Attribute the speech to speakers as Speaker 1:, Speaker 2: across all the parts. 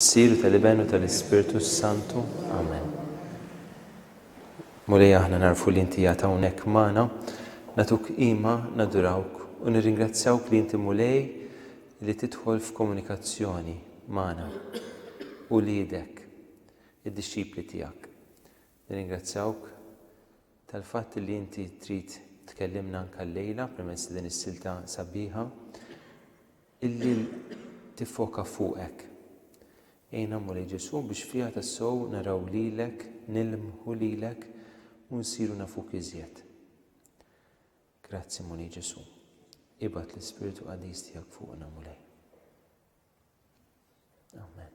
Speaker 1: Sir u tal-Iben u tal-Ispirtu s-Santu. Amen. Mulej aħna narfu li inti jgħat hawnhekk magħna, natuk qima, nadurawk u nirringrazzjawk li inti Mulej li tidħol f'komunikazzjoni magħna u liedek id-dixxipli tiegħek. Nirringrazzjawk tal-fatt li inti trid tkellimna anke llejla permezz din is-silta sabiħa. Illi tiffoka fuqek. Għinna, Mulej Ġesù, biex fiha tassew naraw lilek, nilmħu lilek, u nsiru nafuk iżjed. Grazzi, Mulej Ġesù. Ibgħat l-Ispirtu Qaddis tiegħek fuqna, Mulej. Amen.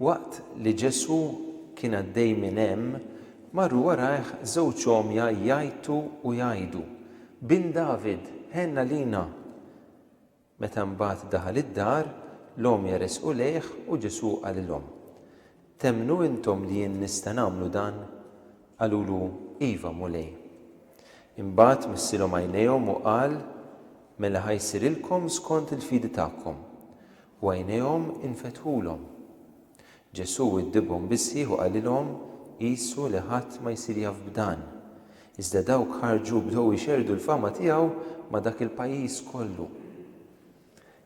Speaker 1: Waqt li Ġesù kien għaddej minn hemm, marru warajh żewġ għomja jgħajtu u jgħidu, Bin David, ħenn għalina! Meta mbagħad daħal id-dar, l-għomja resqu lejh u Ġesù qalilhom, Temmnu intom li jien nista' nagħmlu dan? Qalulu, Iva, Mulej. Imbagħad missilhom għajnejhom u qal, Mela ħa jsirilkom skont il-fidi tagħkom. U għajnejhom infetħulhom. Ġesù widdibhom bis-sħiħ u qalilhom, Qisu li ħadd ma jsir jaf b'dan. Iżda dawk ħarġu u bdew ixerrdu l-fama tiegħu ma' dak il-pajjiż kollu.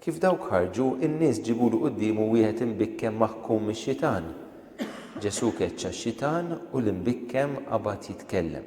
Speaker 1: Kif dawk ħarġu, in-nies ġibulu quddiemu wieħed imbikkem maħkum mix-xitan. Ġesù keċċa x-xitan u l-imbikkem qabad jitkellem.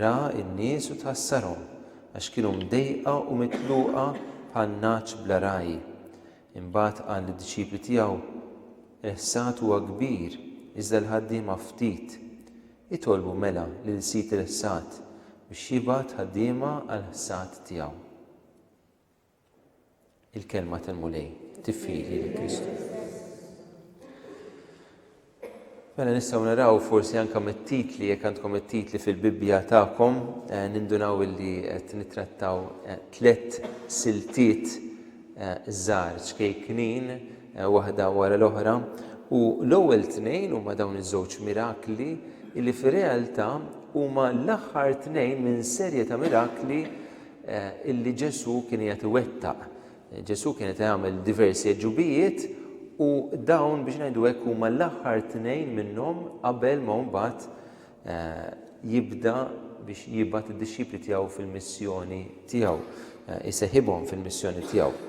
Speaker 1: Ra n-nies u tħassarhom, għax kienu mdejqa u mitluqa bħal nagħaġ bla ragħaj. Imbagħad qal lid-dixxipli tiegħu, Il-ħsad huwa kbir, iżda l-ħaddiema ftit. Itolbu mela lil sid il-ħsad biex jibgħat ħaddiema għall-ħsad tiegħu. Il-Kelma tal-Mulej tifidi lil Kristu. Mela nistgħu naraw forsi anke mit-titli jekk għandkom it-titli fil-Bibbja tagħkom eh, nindunaw illi qed nittrattaw eh, tliet siltiet eh, żgħar ċkejknin waħda wara l-oħra u l-ewwel tnejn huma dawn iż-żewġ mirakli illi fir-realtà huma l-aħħar tnejn minn serje ta' mirakli illi Ġesù kien qiegħed iwettaq. Ġesù kien qed jagħmel diversi għeġubijiet u dawn biex ngħidu hekk huma l-aħħar tnejn minnhom qabel ma mbagħad eh, jibda biex jibgħat id-dixxipli tiegħu fil-missjoni tiegħu, eh, iseħibhom fil-missjoni tiegħu.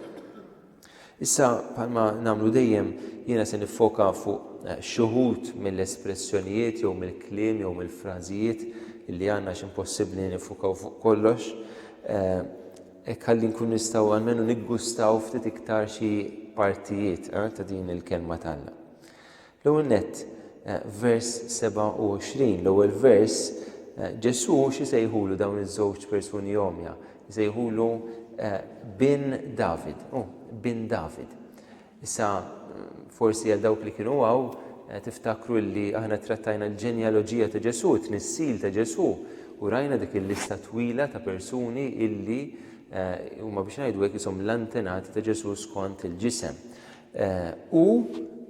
Speaker 1: Issa, bħalma nagħmlu dejjem, jiena se niffoka fuq xi wħud mill-espressjonijiet jew mill-kliem jew mill-frażijiet li għandna x'impossibbli li niffokaw fuq kollox. Hekk ħalli nkun nistgħu għalmenu niggustaw ftit iktar xi partijiet ta' din il-kelma t'Alla. L-ewwel nett, vers 27, l-ewwel vers, Ġesù x'isejħulu dawn iż-żewġ persuni għomja? Isejħulu bin David, oh, bin David. Issa, forsi għal dawk li kienu għaw, Eh, tiftakru li aħna trattajna l-ġenjaloġija ta' Ġesu, t-nissil ta' Ġesu, u rajna dik il-lista twila ta' persuni illi eh, huma biex ngħidu hekk isom l-antenati ta' Ġesu skont il-ġisem. U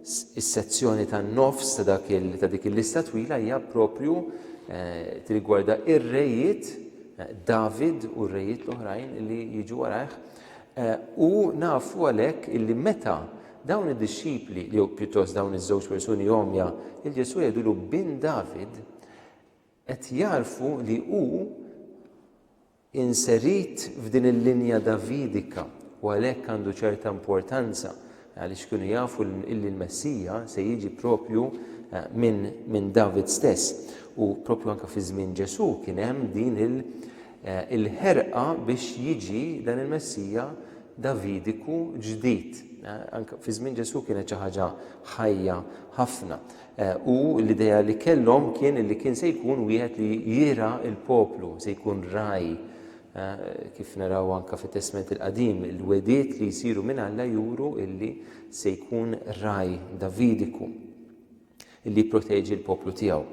Speaker 1: s-sezzjoni tan-nofs ta' dak il ta' dik il-lista twila hija proprju tirrigwarda r-rejiet, David u r-rejiet l-oħrajn li jiġu warajh. U nafu għalhekk illi meta dawn id-dixxipli, jew pjuttost dawn iż-żewġ persuni għomja, lil Ġesù jgħidulu bin David, qed jagħrfu li hu inserit f'din il-linja Davidika u għalhekk għandu ċerta importanza għaliex kienu jafu illi l-Messija se jiġi proprju minn min David stess u proprju anke fi żmien Ġesù kien hemm din il-ħerqa biex jiġi dan il-Messija Davidiku ġdid. Anke fi żmien Ġesù kienet xi ħaġa ħajja ħafna. U l-idea li kellhom kien li kien se jkun wieħed li jira l-poplu, se jkun raj. Kif naraw anke fit-Testment il-Qadim, il-wediet li jsiru minn Alla juru illi se jkun raj Davidiku illi jipproteġi l-poplu tiegħu.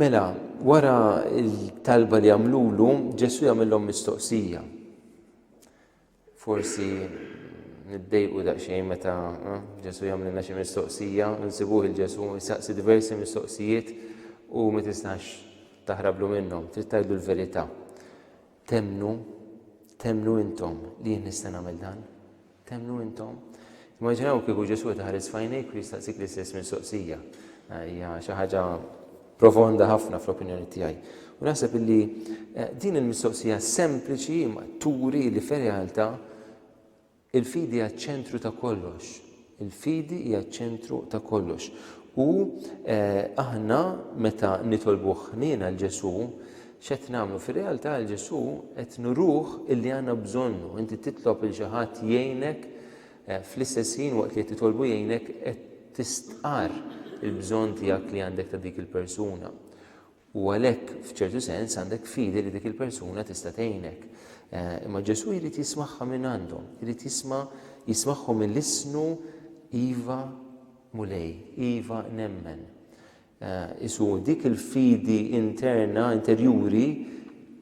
Speaker 1: Mela, wara l-talba li għamlulu, Ġesu jagħmilhom mistoqsija. Forsi niddejqu daqsxejn meta eh, Ġesu jagħmlilna xi mistoqsija, nsibuh il-Ġesu jsaqsi diversi mistoqsijiet u ma tistax taħrablu minnhom, trid tgħidlu l-verità. Temnu, temnu intom li jien nista' nagħmel dan. Temnu intom. Immaġinaw kieku Ġesu taħares fajnejk u jistaqsik l-istess mistoqsija. Hija xi ħaġa Profonda ħafna fl-opinjoni tiegħi. U naħseb illi eh, din il-mistoqsija sempliċi ma turi li fir-realtà il-fidi hija ċentru ta' kollox. Il-fidi hija ċentru ta' kollox. U eh, aħna meta nitolbu ħnina l-Ġesu, xet namlu fil-realtà l-Ġesu qed nuruh illi għandna bżonnu. Inti titlob il xi ħadd jgħinek Fl-istess ħin waqt li qed titolbu jgħinek qed tistqarr il-bżonn tiegħek li għandek ta' dik il-persuna. U għalhekk f'ċertu sens għandek fidi li dik il-persuna tista' tgħinek. Imma Ġesù jrid jismagħha minn għandhom, jrid jisma' jismagħhom mill-isnu Iva Mulej, Iva nemmen. Isu dik il-fidi interna, interjuri,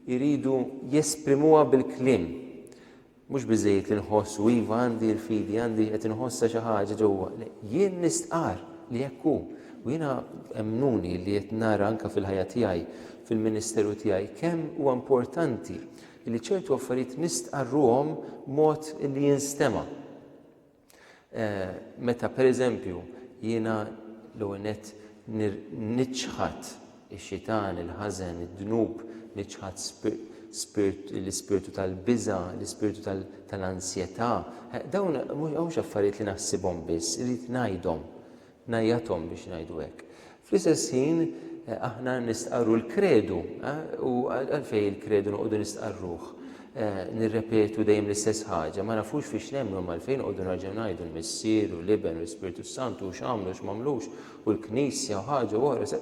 Speaker 1: jridu jesprimuha bil-kliem. Mhux biżżejjed li nħoss u iva għandi l-fidi, għandi qed inħossha xi ħaġa ġewwa. Le, jien nistqarr li hekk hu. U jiena emmnuni li qed nara anke fil-ħajja tiegħi, fil-ministeru tiegħi, kemm huwa importanti li ċertu affarijiet nistqarruhom b'mod li jinstema'. Meta pereżempju jiena l-ewwel nett niċħad ix-xitan, il-ħażen, id-dnub, niċħad l-ispirtu tal-biża', l-ispirtu tal-ansjetà, dawn mhux affarijiet li naħsibhom biss, irrid ngħidhom. ngħajjathom biex ngħidu hekk. Fl-istess ħin aħna nistqarru l-kredu u għalfejn il-kredu noqogħdu nistqarruh. Nirrepetu dejjem l-istess ħaġa, ma nafux fiex nemmnu ma għalfejn noqogħdu nerġgħu ngħidu l-Missier u l-Iben u l-Ispirtu Santu u x'għamlu x'mamlux u l-Knisja u ħaġa u oħra.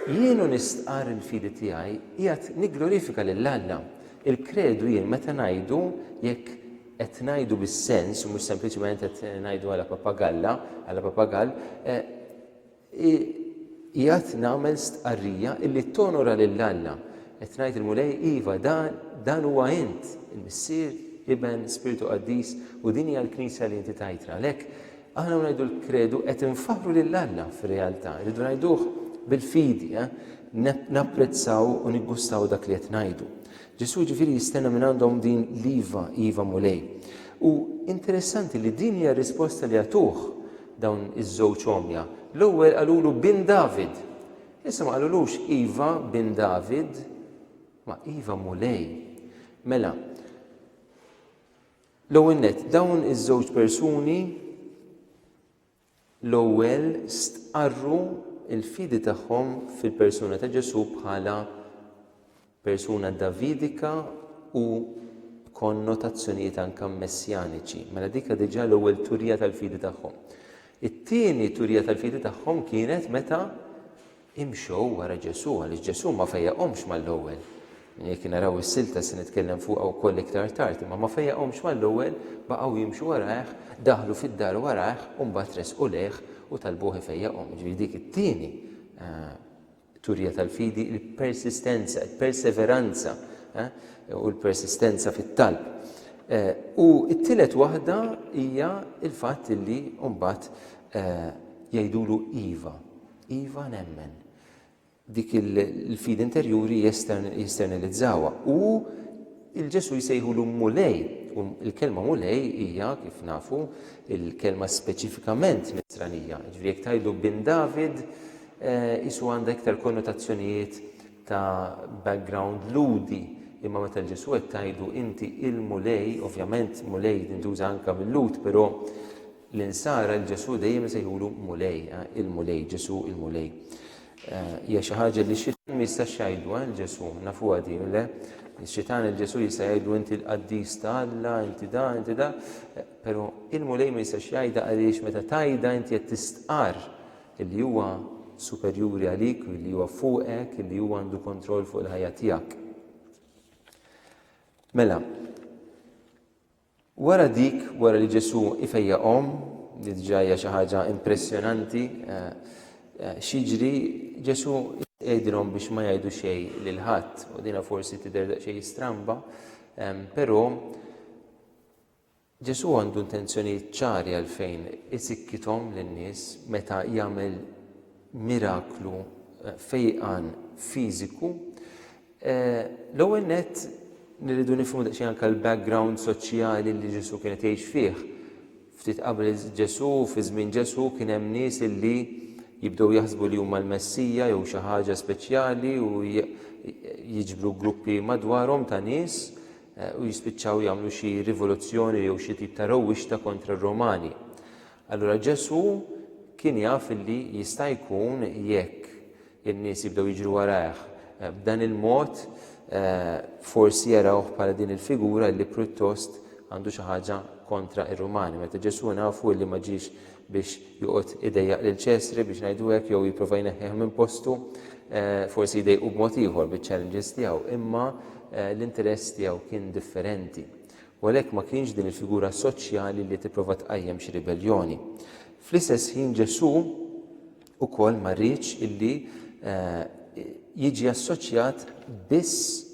Speaker 1: Jien u nistqarr il-fidi tiegħi qiegħed nigglorifika lil Alla. Il-kredu jien meta ngħidu, jekk qed ngħidu bis-sens u mhux sempliċement qed ngħidu għala papagalla, għala papagall, qiegħed nagħmel stqarrija illi tonora lil Alla. Qed ngħid il-Mulej, iva, dan huwa int, il-Missier, Iben, Spirtu Qaddis, u din hija l-Knisja li inti tajtna. Għalhekk, Aħna ngħidu l-kredu qed infaħħru lil Alla fir-realtà, irridu ngħiduh bil-fidi, napprezzaw u niggustaw dak li qed ngħidu. Ġesù ġifieri jistenna minn għandhom din l-iva, iva Mulej. U interessanti li din hija r-risposta li għatuh dawn iż-żewġ għomja. L-ewwel qalulu bin David. Issa ma qalulux iva bin David, ma iva Mulej. Mela, L-ewwel nett, dawn iż-żewġ persuni l-ewwel stqarru l-fidi tagħhom fil-persuna ta' Ġesù bħala persuna Davidika u konnotazzjonijiet anke messjaniċi. Mela dika diġà l-ewwel turija tal-fidi tagħhom. It-tieni turija tal-fidi tagħhom kienet meta Imxu wara Ġesù għaliex Ġesù ma fejjaqhomx mal-ewwel. Jekk naraw is-silta se nitkellem fuqha wkoll iktar tard imma ma fejjaqhomx mal-ewwel, baqgħu jimxu warajh, daħlu fid-dar warajh u mbagħad resqu lejh u talbuh ifejjaqhom. Jiġifieri dik it-tieni turija tal-fidi, il-persistenza, il-perseveranza u l-persistenza fit-talb. U t-tielet waħda hija l-fatt li mbagħad jgħidulu iva. Iva nemmen. Dik il-fidi interjuri jesternilizzawha. U il-Ġesu jsejħulu Mulej. U l-kelma Mulej hija, kif nafu, il-kelma speċifikament Nisranija. Ġifieri jekk tgħidlu bin David, qisu għandha iktar konnotazzjonijiet ta' background Lhudi. Imma meta l-Ġesu qed tgħidlu inti il-Mulej, ovvjament Mulej tintuża anke mil-Lhud, però L-Insara 'l Ġesù dejjem isejħulu Mulej, il-Mulej, Ġesù, il-Mulej. Hija xi ħaġa li x-Xitan ma jistax jgħidluha 'l Ġesù, nafuha din, le? Ix-Xitan 'l Ġesù jista' jgħidlu inti l-qaddis ta' Alla, inti da, inti da, però il-Mulej ma jistax jgħidha għaliex meta tgħidha inti qed tistqarr illi huwa superjuri għalik, illi huwa fuqek, illi huwa għandu kontroll fuq il-ħajja tiegħek. Mela, Wara dik, wara li Ġesù ifejjaqhom, li diġà hija xi ħaġa impressjonanti, x'jiġri? Ġesù jgħidilhom biex ma jgħidu xejn lil ħadd, u dinha forsi tidher daqsxejn stramba, però Ġesù għandu intenzjonijiet ċari għalfejn isikkithom lin-nies meta jagħmel miraklu fejqan fiżiku L-ewwel nett nirridu nifhmu daqsxejn anke l-background soċjali li Ġesù kien qed jgħix fih. Ftit qabel Ġesù, fi żmien Ġesù, kien hemm nies li jibdew jaħsbu li huma l-Messija jew xi ħaġa speċjali u jiġbru gruppi madwarhom ta' nies eh, u jispiċċaw jagħmlu xi rivoluzzjoni jew xi tip ta' rewwixta kontra r-Romani. Allura Ġesù kien jaf li jista' jkun jekk in-nies jibdew jiġru warajh b'dan il-mod, forsi jarawh bħala din il-figura li pruttost għandu xi ħaġa kontra r-Rumani. Meta Ġesù nafu li ma ġiex biex joqgħod idejjaq lil Ċesri biex ngħidu hekk jew jipprova jneħħih minn postu, forsi jdejqu b'mod ieħor biċ-challenges tiegħu, imma l-interess tiegħu kien differenti. U għalhekk ma kienx din il-figura soċjali li tipprova tqajjem xi ribelljoni. Fl-istess ħin Ġesù, Ukoll ma rridx illi jiġi assoċjat biss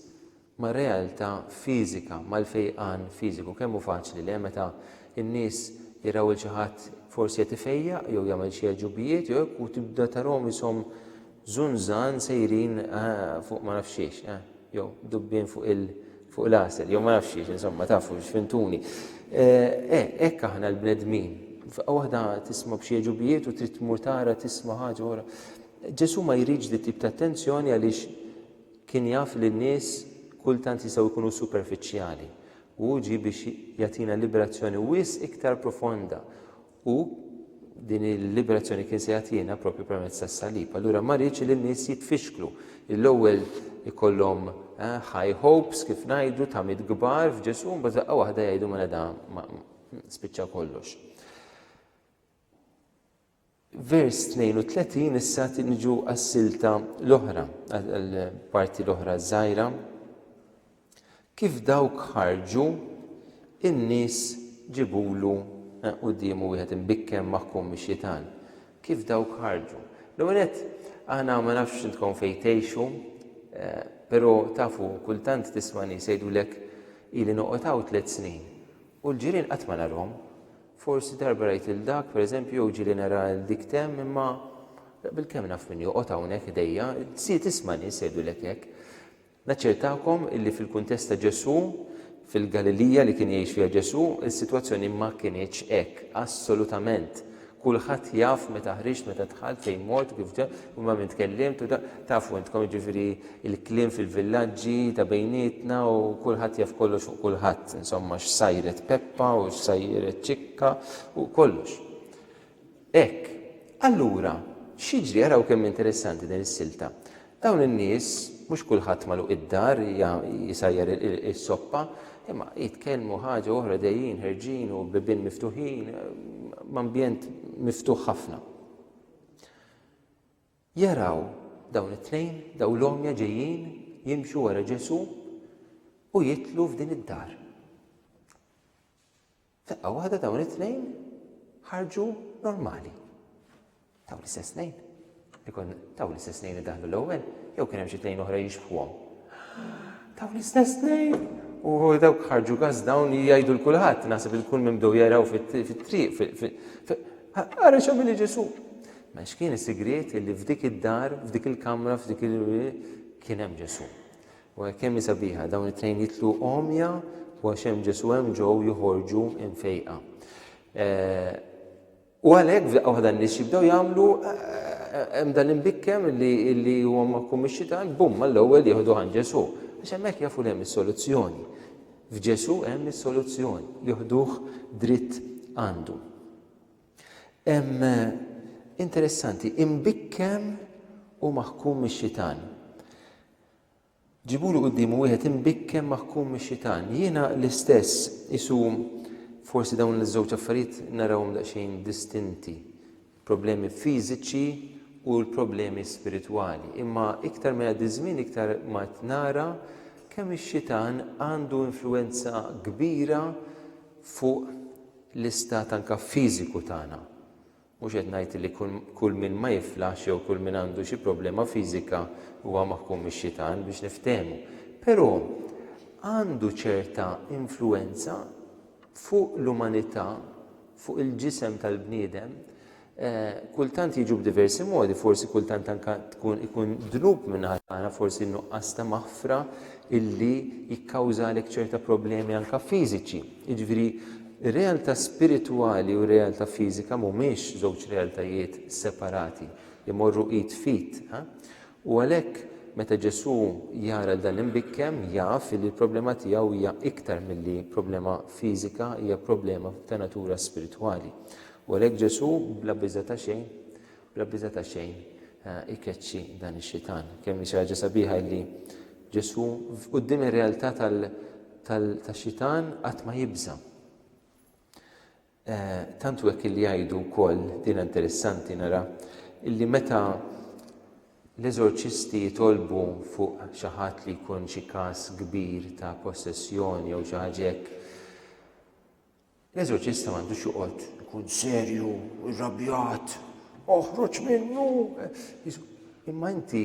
Speaker 1: mar-realtà fiżika, mal-fejqan fiżiku. Kemm hu faċli le, meta n-nies jaraw 'il xi ħadd forsi qed ifejjaq jew jagħmel xi għeġubijiet jew hekk u tibda tarahom ishom żunżan sejrin fuq ma nafx xiex, jew dubbien fuq il. fuq l-għasel, jew ma nafx xiex, insomma, tafu x'fintuni. Hekk aħna l-bnedmin. F'qawwa waħda tisma' b'xi ġubijiet u trid tmur tara tisma' ħaġa ora. Ġesu ma jridx di tip ta' attenzjoni għaliex kien jaf li n-nies kultant jistgħu jkunu superfiċjali. U ġi biex jagħtina liberazzjoni wis iktar profonda. U din il-liberazzjoni kien se jagħtina propju permezz tas-salib. Allura ma rridx li n-nies jitfixklu. L-ewwel ikollhom eh, high hopes kif ngħidu ta' mit kbar f'Ġesu, mbagħad daqqa waħda jgħidu mela da spiċċa kollox. Vers 32 issa tinġu għas-silta l-oħra, għall-parti l-oħra żgħira Kif dawk ħarġu, in-nies ġibulu quddiemu wieħed imbikken maħkum mix-xitan. Kif dawk ħarġu? L-ewwel nett, aħna ma nafx intkom fejn tgħixu, però tafu kultant tisma' nies jgħidulek ili noqgħod hawn tliet snin u l-ġirien qatt ma narhom. Forsi darba rajt lil dak, pereżempju, jew ġieli nara lil dik t'hemm, imma bilkemm naf min joqgħod hawnhekk ħdejja, tisma' nies jgħidulek hekk. Naċċertakom illi fil-kuntest ta' Ġesù, fil-Galilija li kien jgħix fiha Ġesù, is-sitwazzjoni ma kinitx hekk, assolutament. Kulħadd jaf meta ħriġt, meta dħalt, fejn mort, kif ġejt, u ma' min tkellimt u da, tafu intkom jiġifieri l-kliem fil-villaġġi ta' bejnietna u kulħadd jaf kollox fuq kulħadd, insomma x'sajret Peppa u x'sajret Ċikka u kollox. Hekk. Allura, x'jiġri, araw kemm interessanti din is-silta. Dawn in-nies, mhux kulħadd magħluq id-dar jsajjar is-soppa, imma jitkellmu ħaġa oħra dejjin ħerġin u bibien miftuħin, ambjent miftuħ ħafna. Jaraw dawn it-tnejn, dawn l-għomja ġejjin jimxu wara Ġesù u jidħlu f'din id-dar. F'daqqa waħda dawn it-tnejn ħarġu normali. Taw l-istess tnejn. Ikun taw l-istess tnejn li daħlu l-ewwel, jew kien hemm xi tnejn oħra jixbħuhom. Taw l-istess tnejn u dawk ħarġu gas dawn jgħidu l-kulħadd, naħseb il-kull minn bdew jaraw fit-triq. Ara x'għamil Ġesu. Ma x'kien is-sigriet li f'dik id-dar, f'dik il-kamra, f'dik il kien hemm Ġesu. Waj kemm hi sabiħa, dawn it-tnejn jitlu għomja u għax hemm Ġesu hemm ġew joħorġu imfejqa. U għalhekk f'daqqa waħda n-nies jibdew jagħmlu hemm dan imbikkem li huwa ma jkun mix-xitan, bum, mal-ewwel jieħdu għand Ġesu. Għax hemmhekk jafu li hemm is-soluzzjoni. F'Ġesu hemm is-soluzzjoni, jieħduh dritt għandu. Interessanti, imbikkem u maħkum mix-xitan. Ġibulu quddiemu wieħed imbikken maħkum mix-xitan. Jiena l-istess, qisu forsi dawn iż-żewġ affarijiet narawhom daqsxejn distinti, il-problemi fiżiċi u l-problemi spiritwali. Imma iktar ma jgħaddi ż-żmien iktar ma qed nara kemm ix-xitan għandu influwenza kbira fuq l-istat anke fiżiku tagħna. Mhux qed ngħid li kull min ma jiflaħx jew kull min għandu xi problema fiżika huwa maħkum mix-xitan, biex niftehmu. Però għandu ċerta influwenza fuq l-umanità, fuq il-ġisem tal-bniedem. Kultant jiġu b'diversi modi, forsi kultant anke tkun ikun dnub min-naħa tagħna, forsi n-nuqqas ta' maħfra illi jikkawżalek ċerta problemi anke fiżiċi. Jiġifieri, ir-realtà spiritwali u r-realtà fiżika mhumiex żewġ realtajiet separati, imorru id f'id. U għalhekk, meta Ġesù jara lil dan l-imbikkem, jaf li l-problema tiegħu hija iktar milli problema fiżika, hija problema ta' natura spiritwali. U għalhekk Ġesù, bla biża' ta' xejn, Bla biża' ta' xejn ikeċċi dan ix-xitan. Kemm hi xi ħaġa sabiħa li Ġesù quddiem ir-realtà tax-xitan qatt ma jibża'. Eh, tant u hekk li jgħidu wkoll din interessanti nara illi meta l-eżorċisti jitolbu fuq xi ħadd li jkun xi każ kbir ta' possessjoni jew xi ħaġa hekk, L-eżorċista m'għandux joqgħod ikun serju, irrabjat, oħroġ minnu. Imma inti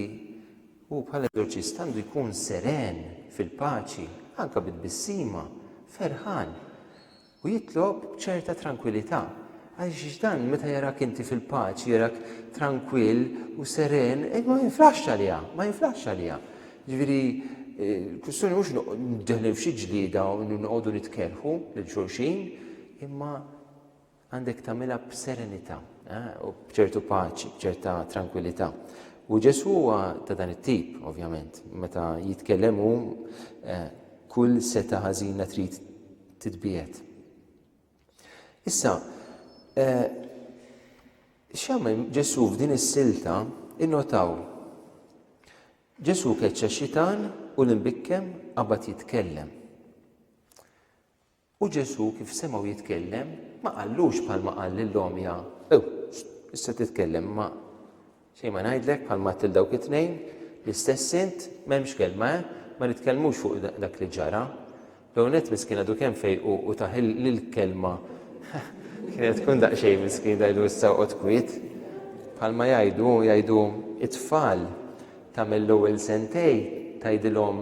Speaker 1: u bħal eżorċist għandu jkun seren fil-paċi, anka bid-bissima, ferħan u jitlob ċerta tranquillità. Għaliex dan meta jarak inti fil-paċi, jarak tranquill u seren, e ma jinflax għalija, ma jinflax għalija. Jiġifieri l-kwistjoni mhux niddeħlu f'xi ġlieda u noqogħdu nitkellħu lil xulxin, imma għandek tagħmilha b'serenità eh, u b'ċertu paċi, b'ċerta trankwillità. U Ġesu huwa ta' dan it-tip, ovvjament, meta jitkellem hu eh, kull seta ħażina trid titbiet. Issa, eh, x'għamel Ġesu f'din is-silta innotaw Ġesù keċċa x-xitan u l-imbikkem qabad jitkellem. U Ġesù kif semgħu jitkellem ma qallux bħalma qal lill-għomja, ew, issa titkellem ma xejn ma ngħidlek bħalma til dawk it-tnejn, l-istess int m'hemmx kelma, eh? ma nitkellmux fuq dak li ġara. L-ewwel nett miskien għadu kemm fejqu u tah l-kelma kienet tkun daqsxejn miskien tgħidlu issa oqgħod kwiet. Bħalma jgħidu jgħidu it-tfal tagħmel l-ewwel sentej tgħidilhom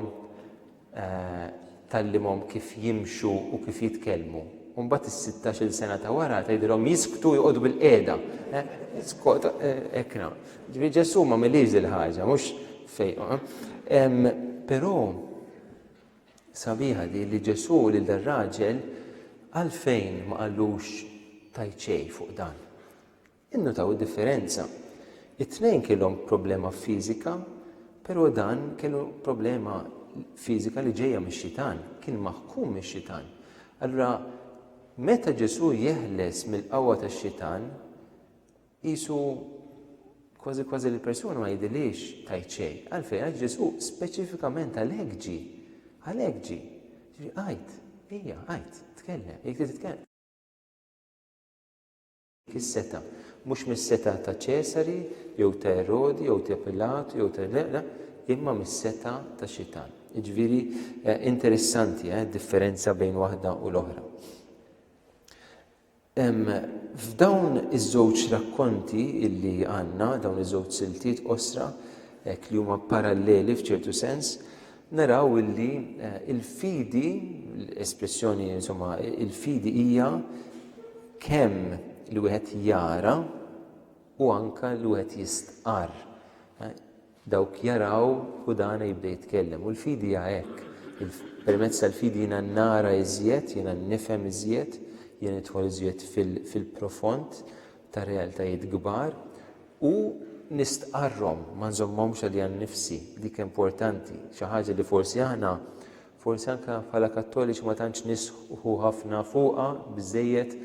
Speaker 1: eh, tallimhom kif jimxu u kif jitkellmu. Umbat is-16 sena ta' wara tgħidilhom jisktu jqogħdu bil-qiegħda. Eh, Skot eh, ekna. Ġifieri Ġesu ma milix il-ħaġa, mhux fejqu. Eh. Però Sabiħa di li Ġesù lil dar-raġel għalfejn ma qallux tajt xejn fuq dan. Innutaw id-differenza. It-tnejn kellhom problema fiżika, però dan kellu problema fiżika li ġejja mix-xitan, kien maħkum mix-xitan. Allura meta Ġesù jeħles mill-qawwa tax-xitan, Qisu kważi kważi li l-persuna ma jidhirlhiex tgħid xejn. Għalfejn? Għax Ġesù speċifikament għalhekk ġie. Għalhekk ġie. Ġifieri għid, ejja, għid, tkellem, jekk trid titkellem. Is-setgħa. Mhux mis-setgħa ta' Ċesari jew ta' Erodi jew ta' Pilatu jew ta' le, le, imma mis-setgħa tax-Xitan. Jiġifieri interessanti d-differenza bejn waħda u l-oħra. F'dawn iż-żewġ rakkonti li għandna, dawn iż-żewġ siltiet qosra, hekk li huma paralleli f'ċertu sens, naraw illi l-fidi, l-espressjoni insomma, il-fidi hija kemm li wieħed jara u anke li wieħed jistqarr. Dawk jaraw u dana jibda jitkellem. U l-fidi hija hekk. Permezz tal-fidi jiena nara iżjed, jiena nifhem iżjed, jiena nidħol iżjed fil-profond ta' realtajiet kbar u nistqarrhom, ma nżommhomx għalija nnifsi. Dik importanti. Xi ħaġa li forsi aħna Forsi anke bħala Kattoliċi ma tantx nisħqu ħafna fuqha biżżejjed,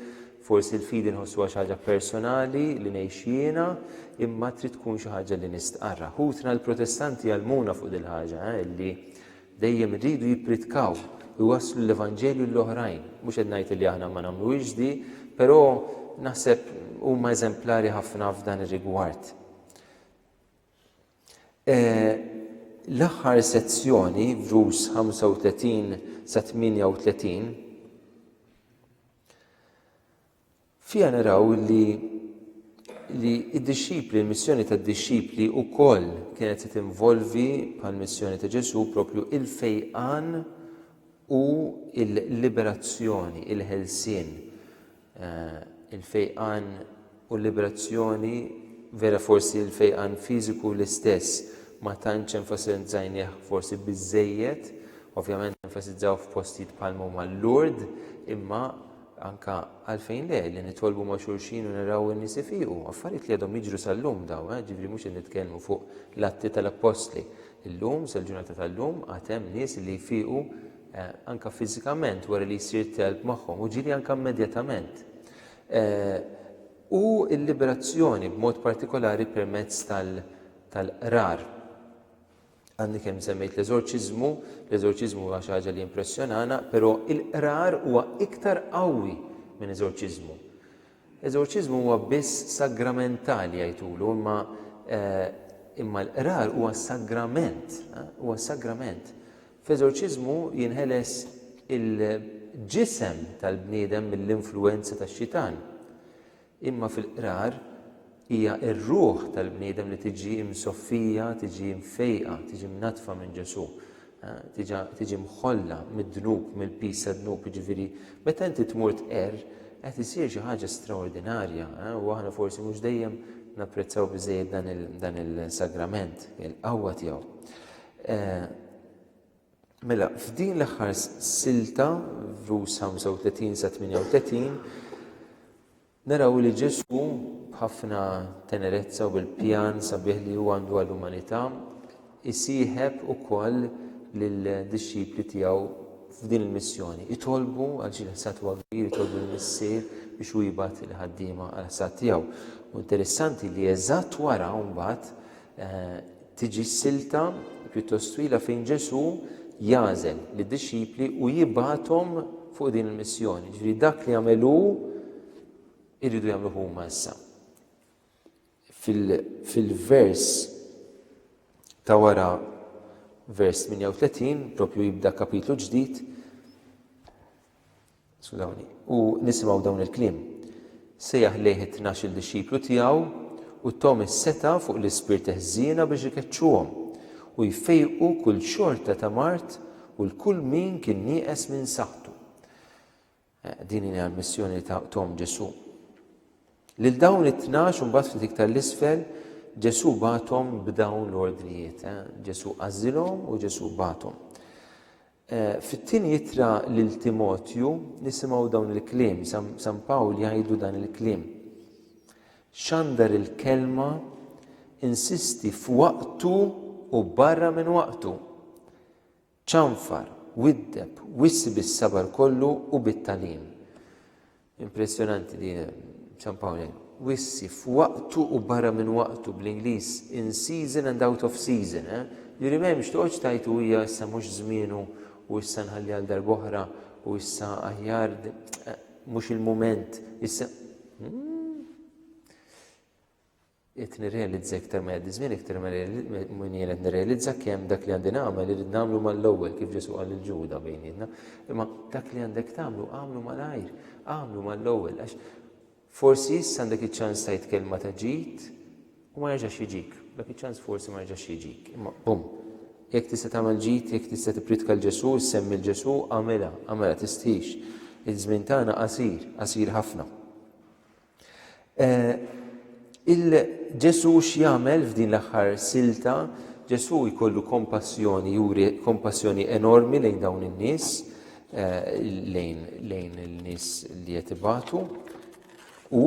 Speaker 1: forsi l-fidi nħossuha xi ħaġa personali li ngħix jiena, imma trid tkun xi ħaġa li nistqarrha. Ħutna l-Protestanti jgħallmuna fuq dil-ħaġa, li dejjem iridu jippritkaw, iwasslu l-Evanġelju lill-oħrajn. Mhux qed ngħid li aħna ma nagħmluhiex di, però naħseb huma eżemplari ħafna f'dan ir-rigward. L-aħħar sezzjoni, vjus 35 sa 38, fiha naraw li li d-dixxipli, il-missjoni tad-dixxipli wkoll kienet se tinvolvi bħal missjoni ta' Ġesu propju il-fejqan u l-liberazzjoni, il-ħelsien. il-fejqan u l-liberazzjoni vera forsi l-fejqan fiżiku l-istess ma tantx enfasizzajnieh forsi biżżejjed, ovvjament enfasizzaw f'postijiet bħal huma l-Lurd, imma anka għalfejn le li nitolbu ma' xulxin u naraw in-nies ifiqu, affarijiet li għadhom jiġru sal-lum dawn, eh, ġifieri mhux qed nitkellmu fuq l-Atti tal-Appostli. Illum, sal-ġurnata tal-lum, għad hemm nies li jfiqu anke fiżikament wara li jsir telb magħhom, u ġieli anke immedjatament, u l-liberazzjoni b'mod partikolari permezz tal-qrar. Għadni kemm semmejt l-eżorċiżmu, l-eżorċiżmu huwa xi ħaġa li jimpressjonana, però l-qrar huwa iktar qawwi minn eżorċiżmu. Eżorċiżmu huwa biss sagramentali jgħidulu imma imma l-qrar huwa sagrament, huwa sagrament. F'eżorċiżmu jinħeles il-ġisem tal-bniedem mill-influwenza tax-xitan. Imma fil-qrar, Hija r-ruħ tal-bniedem li tiġi msoffija, tiġi mfejqa, tiġi mnaddfa minn Ġesù, tiġa, tiġi mħolla mid-dnub, mill-piż tad-dnub, jiġifieri meta inti tmur tqerr qed isir xi ħaġa straordinarja, u aħna forsi mhux dejjem napprezzaw biżejjed dan il, dan il-sagrament, il-qawwa tiegħu. Eh, mela, f'din l-aħħar silta, vus 35 sa 38, Naraw li Ġesù, b'ħafna tenerezza u bil-pjan sabiħ li hu għandu għall-umanità, isieħeb ukoll lid-dixxipli tiegħu f'din il-missjoni. Itolbu għal xi ħsad huwa kbir, itolbu l-Missier biex hu jibgħat il-ħaddiema għall-ħsad tiegħu. U interessanti li eżatt wara mbagħad eh, Tiġi silta pjuttost twila fejn Ġesù jagħżel lid-dixxipli u jibgħathom fuq din il-missjoni. Ġifieri dak li għamel hu jridu jagħmlu huma issa. Fil-vers ta' wara vers 38, propju jibda kapitlu ġdid, Skudawni. U nisimgħu dawn il-kliem. Sejjaħ lejh it-tnax-il dixxiplu tiegħu u tahom is-setgħa fuq l-ispirti ħżiena biex ikeċċuhom, u jfejqu kull xorta ta' mard u 'l kull min kien nieqes minn saħħtu. Din hija l-missjoni li tahom Ġesù. Lil dawn it-tnax u mbagħad ftit iktar 'l isfel Ġesù bagħathom b'dawn l-ordnijiet. Ġesù għażilhom u Ġesù bagħathom. Fit-tieni ittra lil Timotju nisimgħu dawn il-kliem, San Pawl jgħidlu dan il-kliem. Xandar il-kelma insisti f'waqtu u barra minn waqtu. Ċanfar, widdeb, wissi bis-sabar kollu u bit-talim. Impressjonanti din San Pauli. Wissi, f'waqtu u barra minn waqtu, bl-Ingliż in season and out of season, eh? Jiġifieri m'hemmx toqgħodx tgħid u hija issa mhux żmienu u issa nħalli għal darb'oħra u issa aħjar mhux il-mument, issa. Hmm? Qed nirrealizza iktar ma jgħaddi ż-żmien iktar ma jien qed nirrealizza kemm dak li għandi nagħmel irid nagħmlu mal-ewwel kif Ġesù qal lil Ġuda bejnietna. Imma dak li għandek tagħmlu għamlu malajr, għamlu mal-ewwel għax forsi issa għandek iċ-ċans tajt kelma ta' ġid u ma jerġax jiġik. Dak iċ-ċans forsi ma jerġax jiġik. Imma bum, jekk tista' tagħmel ġid, jekk tista' tipritka l Ġesù, semmi l Ġesù, għamilha, għamilha tistħix. Iż-żmien tagħna qasir, qasir ħafna. Eh, Il-Ġesu x'jagħmel f'din l-aħħar silta, Ġesu jkollu kompassjoni, juri kompassjoni enormi lejn dawn in-nies, eh, lejn lejn il-nies li qed ibatu. U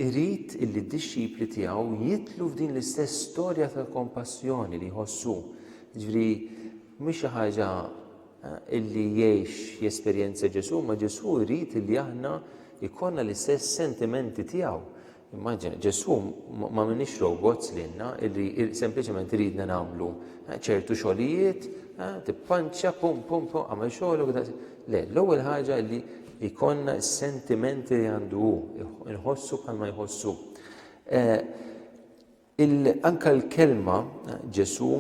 Speaker 1: Irid illi d-dixxipli tiegħu jidħlu f'din l-istess storja tal-kompassjoni li jħossu. Jiġifieri mhix xi ħaġa illi jgħix jesperjenzja Ġesù, ma Ġesù jrid illi aħna jkollna l-istess sentimenti tiegħu. Immaġina, Ġesù ma minix robots lilna illi sempliċement iridna nagħmlu ċertu xogħlijiet, tippanċċa, pum pum pum, għamel xogħolok, Le, l-ewwel ħaġa li jkollna s-sentimenti li għandu hu, nħossu bħalma jħossu. Eh, anka l-kelma eh, Ġesu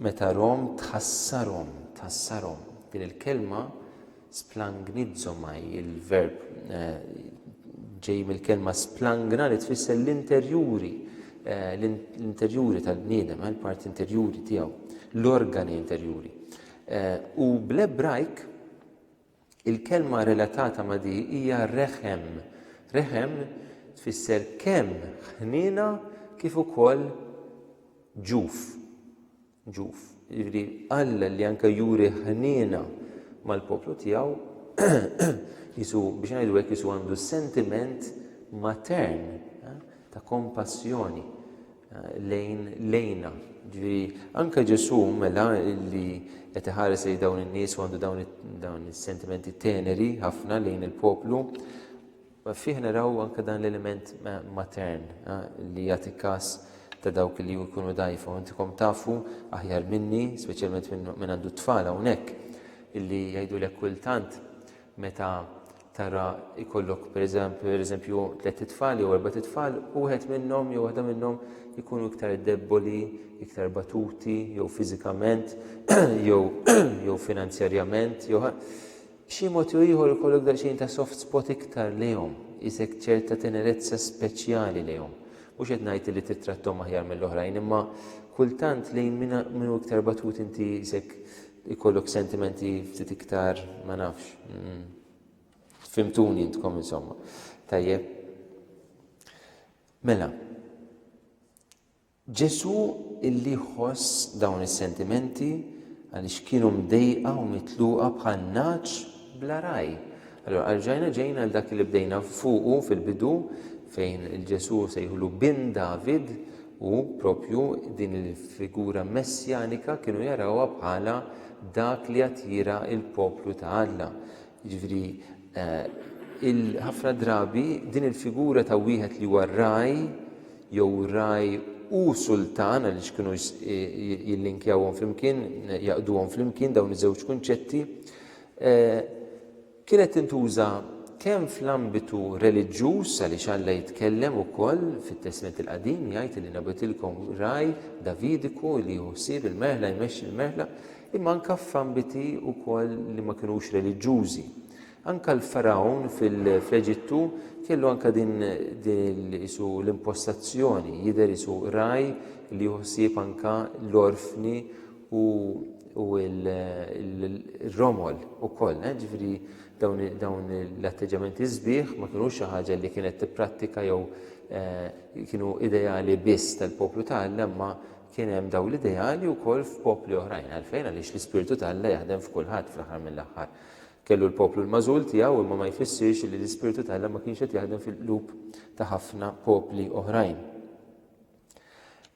Speaker 1: meta rom tħassarom, tħassarom. Din il-kelma splangnizomaj, il-verb eh, ġej mill-kelma splangna li tfisser l-interjuri, l-interjuri tal-bniedem, l-parti interjuri tiegħu, l-organi interjuri. U bl-Ebrajk, il-kelma relatata ma' di hija reħem. Reħem tfisser kemm ħniena kif ukoll ġuf. Ġuf. Jiġri Alla li anke juri ħniena mal-poplu tiegħu jisu biex ngħidu hekk jisu għandu sentiment matern eh, ta' kompassjoni lejn lejna. Ġifieri anke Ġesù mela li qed iħares lejn dawn in-nies u għandu dawn dawn is-sentimenti teneri ħafna lejn il-poplu, fih naraw anke dan l-element matern li jagħti każ ta' dawk li jkunu dajfa. U intikom tafu aħjar minni, speċjalment minn għandu t-tfal hawnhekk, illi jgħidulek kultant meta tara jkollok pereżempju tliet itfal jew erbat itfal u wieħed minnhom jew waħda minnhom ikunu iktar debboli, iktar batuti, jew fiżikament, jew jew finanzjarjament, jew b'xi mod jew ieħor ikollok daqsxejn ta' soft spot iktar lejhom, isek ċerta tenerezza speċjali lejhom. Mhux qed ngħid li tittrattom aħjar mill-oħrajn, imma kultant lejn minn iktar batut inti isek Ikollok sentimenti ftit iktar ma nafx. Mm. Fimtuni intkom insomma. Tajjeb. Mela, Ġesu illi ħoss dawn is-sentimenti għaliex kienu mdejqa u mitluqa bħal naċ bla raj. Allora, għalġajna ġejna għal dak li bdejna fuqu fil-bidu fejn il-Ġesu sejħulu bin David u proprju din il-figura messjanika kienu jarawha bħala dak li attira l-poplu ta' Alla. Jiġifieri eh, ħafna drabi din il-figura ta' wieħed li huwa raj jew raj u sultan għaliex kienu jillinkjawhom flimkien, jaqduhom flimkien dawn iż-żewġ kunċetti. Eh, Kienet tintuża kemm fl-ambitu reliġjuż, għaliex Alla jitkellem ukoll fit-Testment il-Qadim, jgħid li nabgħetilkom ragħaj Davidiku li jieħu ħsieb il-merħla, jmexxi l-merħla, imma anke f'ambiti wkoll li ma kinux reliġjużi. Anke l-Fargħun fl-Eġittu kellu anke din qisu l-impostazzjoni, jidher qisu ragħaj li jieħu ħsieb anke l-orfni u u il-romol u koll, eh, ġifiri dawn l-atteġġamenti zbieħ ma kienu xi ħaġa li kienet tipprattika jew eh, kienu ideali biss tal-poplu ta' Alla imma kien hemm daw l-ideali wkoll f'popli oħrajn għalfejn għaliex l-ispirtu ta' Alla jaħdem f'kulħadd fl-aħħar mill-aħħar. Kellu l-poplu l-mażul tiegħu imma ma jfissirx li l-ispirtu ta' Alla ma kienx qed jaħdem fil-qlub ta' ħafna popli oħrajn.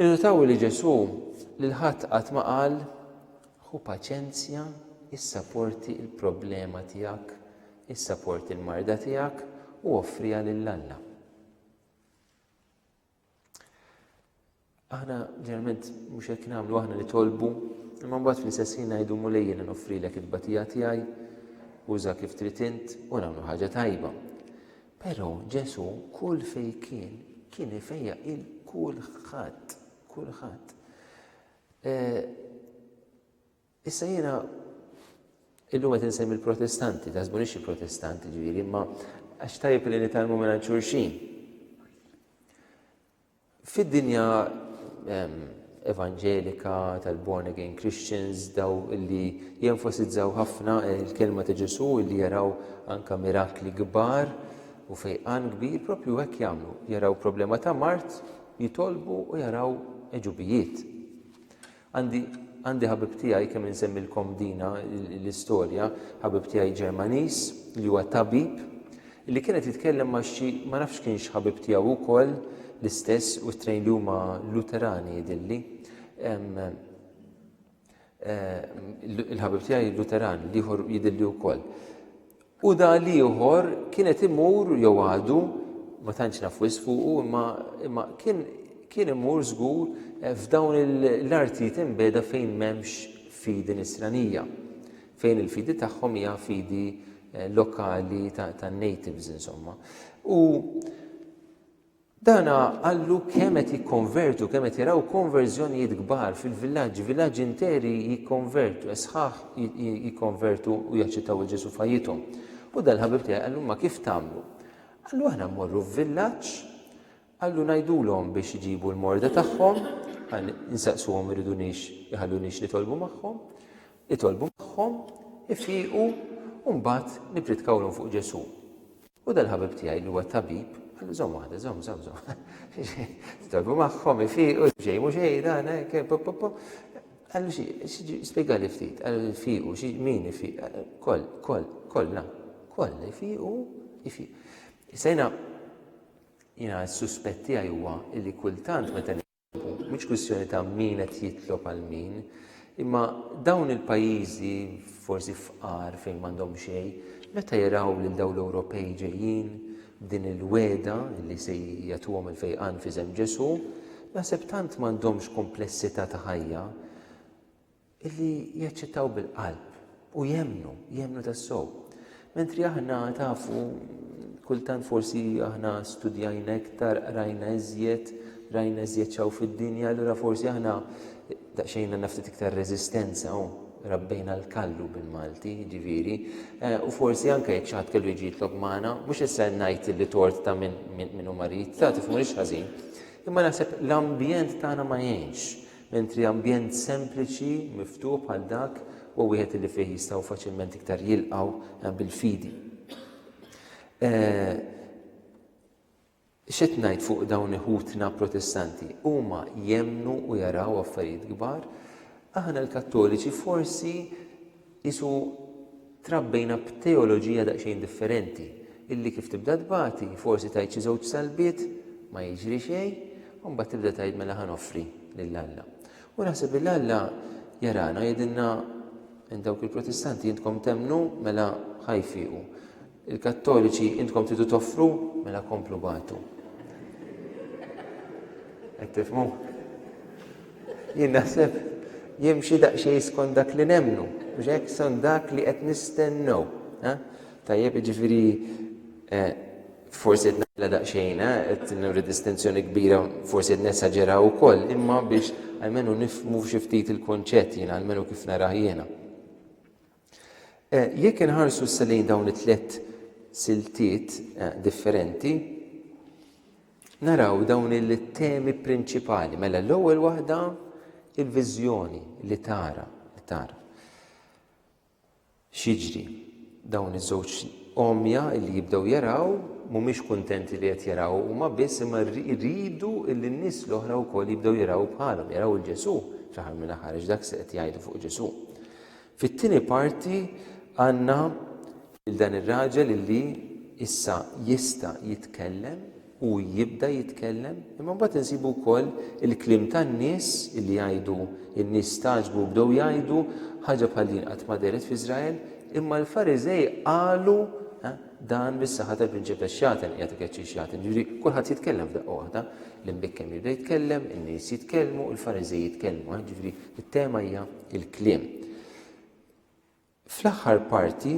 Speaker 1: Innotaw li Ġesù lil ħadd qatt ma qal, Ħu paċenzja, issa porti l-problema tiegħek, issa porti l-marda tiegħek u offriha lil Alla. Aħna ġeneralment mhux hekk nagħmlu aħna nitolbu, imma mbagħad fl-istess ħin ngħidu mulej jiena noffrilek it-tbatija tiegħi, uża kif trid int u nagħmlu ħaġa tajba. Però Ġesù kull fejn kien, kien ifejjaq il kulħadd, kulħadd. Eh, issa jiena illum qed insemmi l-Protestanti, taħsbunix il-Protestanti ġifieri, imma għax tajjeb li nitalmu minn xulxin. Fid-dinja evanġelika tal-born again Christians daw li jenfasizzaw ħafna il-kelma ta' Ġesu li jaraw anka mirakli kbar u fejqan kbir propju hekk jagħmlu. Jaraw problema ta' mart, jitolbu u jaraw eġubijiet. Għandi għandi ħabib tiegħi kemm insemmilkom dina l-istorja, ħabib tiegħi Ġermaniż li huwa tabib li kien qed jitkellem ma' xi ma nafx kienx ħabib tiegħu wkoll l-istess u t-trejn li huma Luterani jidilli. Il-ħabib tiegħi Luteran li ieħor jidilli wkoll. U da l-ieħor kien qed imur jew għadu, ma tantx naf wis fuqu, imma imma kien kien imur żgur eh, f'dawn l-artijiet imbeda fejn m'hemmx fidi nisranija, fejn il-fidi tagħhom hija fidi eh, lokali tan-natives insomma. U Dan qallu kemm qed jikkonvertu, kemm qed jaraw konverżjonijiet kbar fil-villaġġi, villaġġi interi jikkonvertu, is-sħaħ jikkonvertu u jaċċettaw lil Ġesù f'ħajjithom. U dan il-ħabib tiegħi qallu imma kif tagħmlu? Qallu aħna mmorru f'villaġġ, qallu ngħidulhom biex iġibu l-morda tagħhom, għal insaqsuhom iridunix iħallunix nitolbu magħhom, itolbu magħhom, ifiqu u mbagħad nipritkawlhom fuq Ġesù. U dal-ħabib tiegħi li huwa tabib, qallu żomm waħda, żomm, żomm, żomm. Tolbu magħhom ifiqu, xejn mhux xejn dan, eh, pop, pop, pop. Qallu xi, spjegali ftit, qallu ifiqu, xi min ifiq, koll, koll, kollna, koll ifiqu, ifiq. Sejna, jina s-suspett tiegħi huwa illi kultant meta Mhix kwistjoni ta' min qed jitlob għal min, imma dawn il-pajjiżi forsi fqar fejn m'għandhom xejn, meta jaraw lil dawn l-Ewropej ġejjin b'din il-wegħda li se jagħtuhom il-fejqan f'isem Ġesù, naħseb tant m'għandhomx komplessità ta' ħajja, Illi jaċċettaw bil-qalb u jemmnu, jemmnu tas-sow. Mentri aħna tafu kultant forsi aħna studjajna iktar, rajna iżjed, rajna iżjed xaw fid-dinja, allura forsi aħna daqsxejn għandna ftit iktar reżistenza u rabbejna l-kallu bil-Malti, ġiviri, eh, u forsi anke jekk xaħat kellu jġi jitlok maħna, mux issa najt li tort ta' minn u marit, ta' tifmu ħażin. Imma naħseb l-ambjent tagħna ma jgħinx. Mentri ambjent sempliċi, miftuħ bħal dak huwa wieħed li fih jistgħu faċilment iktar jilqgħu bil-fidi. X'qed ngħid fuq dawn iħutna Protestanti? Huma jemmnu u jaraw affarijiet kbar. Aħna l-Kattoliċi forsi Qisu trabbejna b'teoloġija daqsxejn differenti, illi kif tibda tbati, forsi tgħid xi żewġ salbiet, ma jiġri xejn, u mbagħad tibda tgħid mela ħa noffri lil Alla. U naħseb illi Alla jarana u jgħidilna, Dawk il-Protestanti intkom temmnu, mela ħa jfiqu. Il kattoliċi intkom tridu toffru? Mela komplu bagħtu. Qed tifhmu? Jien naħseb jimxi daqsxejn skont dak li nemmnu, mhux hekk skont dak li qed nistennew. Tajjeb jiġifieri eh, forsi qed nagħmilha daqsxejn, eh, qed nuri distinzjoni kbira, forsi qed nesaġeraw ukoll, imma biex għalmenu nifmu xi ftit il-kunċett jiena, għalmenu kif narah jiena. Jekk inħarsu issa lejn dawn it-tliet siltiet differenti, naraw dawn il-temi prinċipali. Mela l-ewwel waħda il-viżjoni li tara, li tara. Xiġri dawn iż-żewġ omja li jibdew jaraw mhumiex kuntenti li qed jaraw huma biss imma rridu li n-nies l-oħra wkoll jibdew jaraw bħalhom, jaraw il-Ġesu fl-aħħar mill-aħħar dak se qed jgħidu fuq Ġesu. Fit-tieni parti għandna lil dan ir-raġel li issa jista' jitkellem u jibda jitkellem, imma mbagħad insibu wkoll il-kliem tan-nies li jgħidu n-nies stagħġbu u bdew jgħidu ħaġa bħal din qatt ma dehret f'Iżrael, imma l-Fariżej qalu dan bis-saħħa tal-prinċepess xagħten qiegħed ikeċċi x-xagħten. Jiġri kulħadd jitkellem f'daqqa waħda, l-imbikkem jibda jitkellem, in-nies jitkellmu, il-Fariżej jitkellmu, jiġri It-tema hija l-kliem. Fl-aħħar parti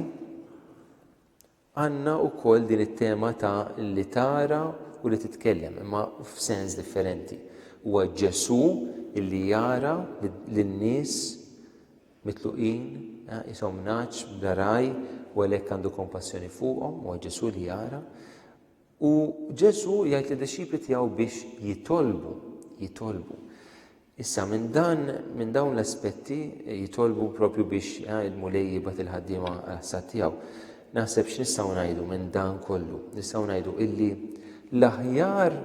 Speaker 1: għandna wkoll din it-tema ta' li tara u li titkellem, imma f'sens differenti. Huwa Ġesu li jara lin-nies mitluqin, eh, isom naċ, blaraj, u għalhekk għandu kompassjoni fuqhom, huwa Ġesu li jara. U Ġesu jgħid li dixxipli tiegħu biex jitolbu, jitolbu. Issa minn dan, minn dawn l-aspetti jitolbu propju biex eh, il-Mulej jibgħat il-ħaddiema għas-sad tiegħu. Naħseb x'nistgħu ngħidu minn dan kollu? Nistgħu ngħidu illi l-aħjar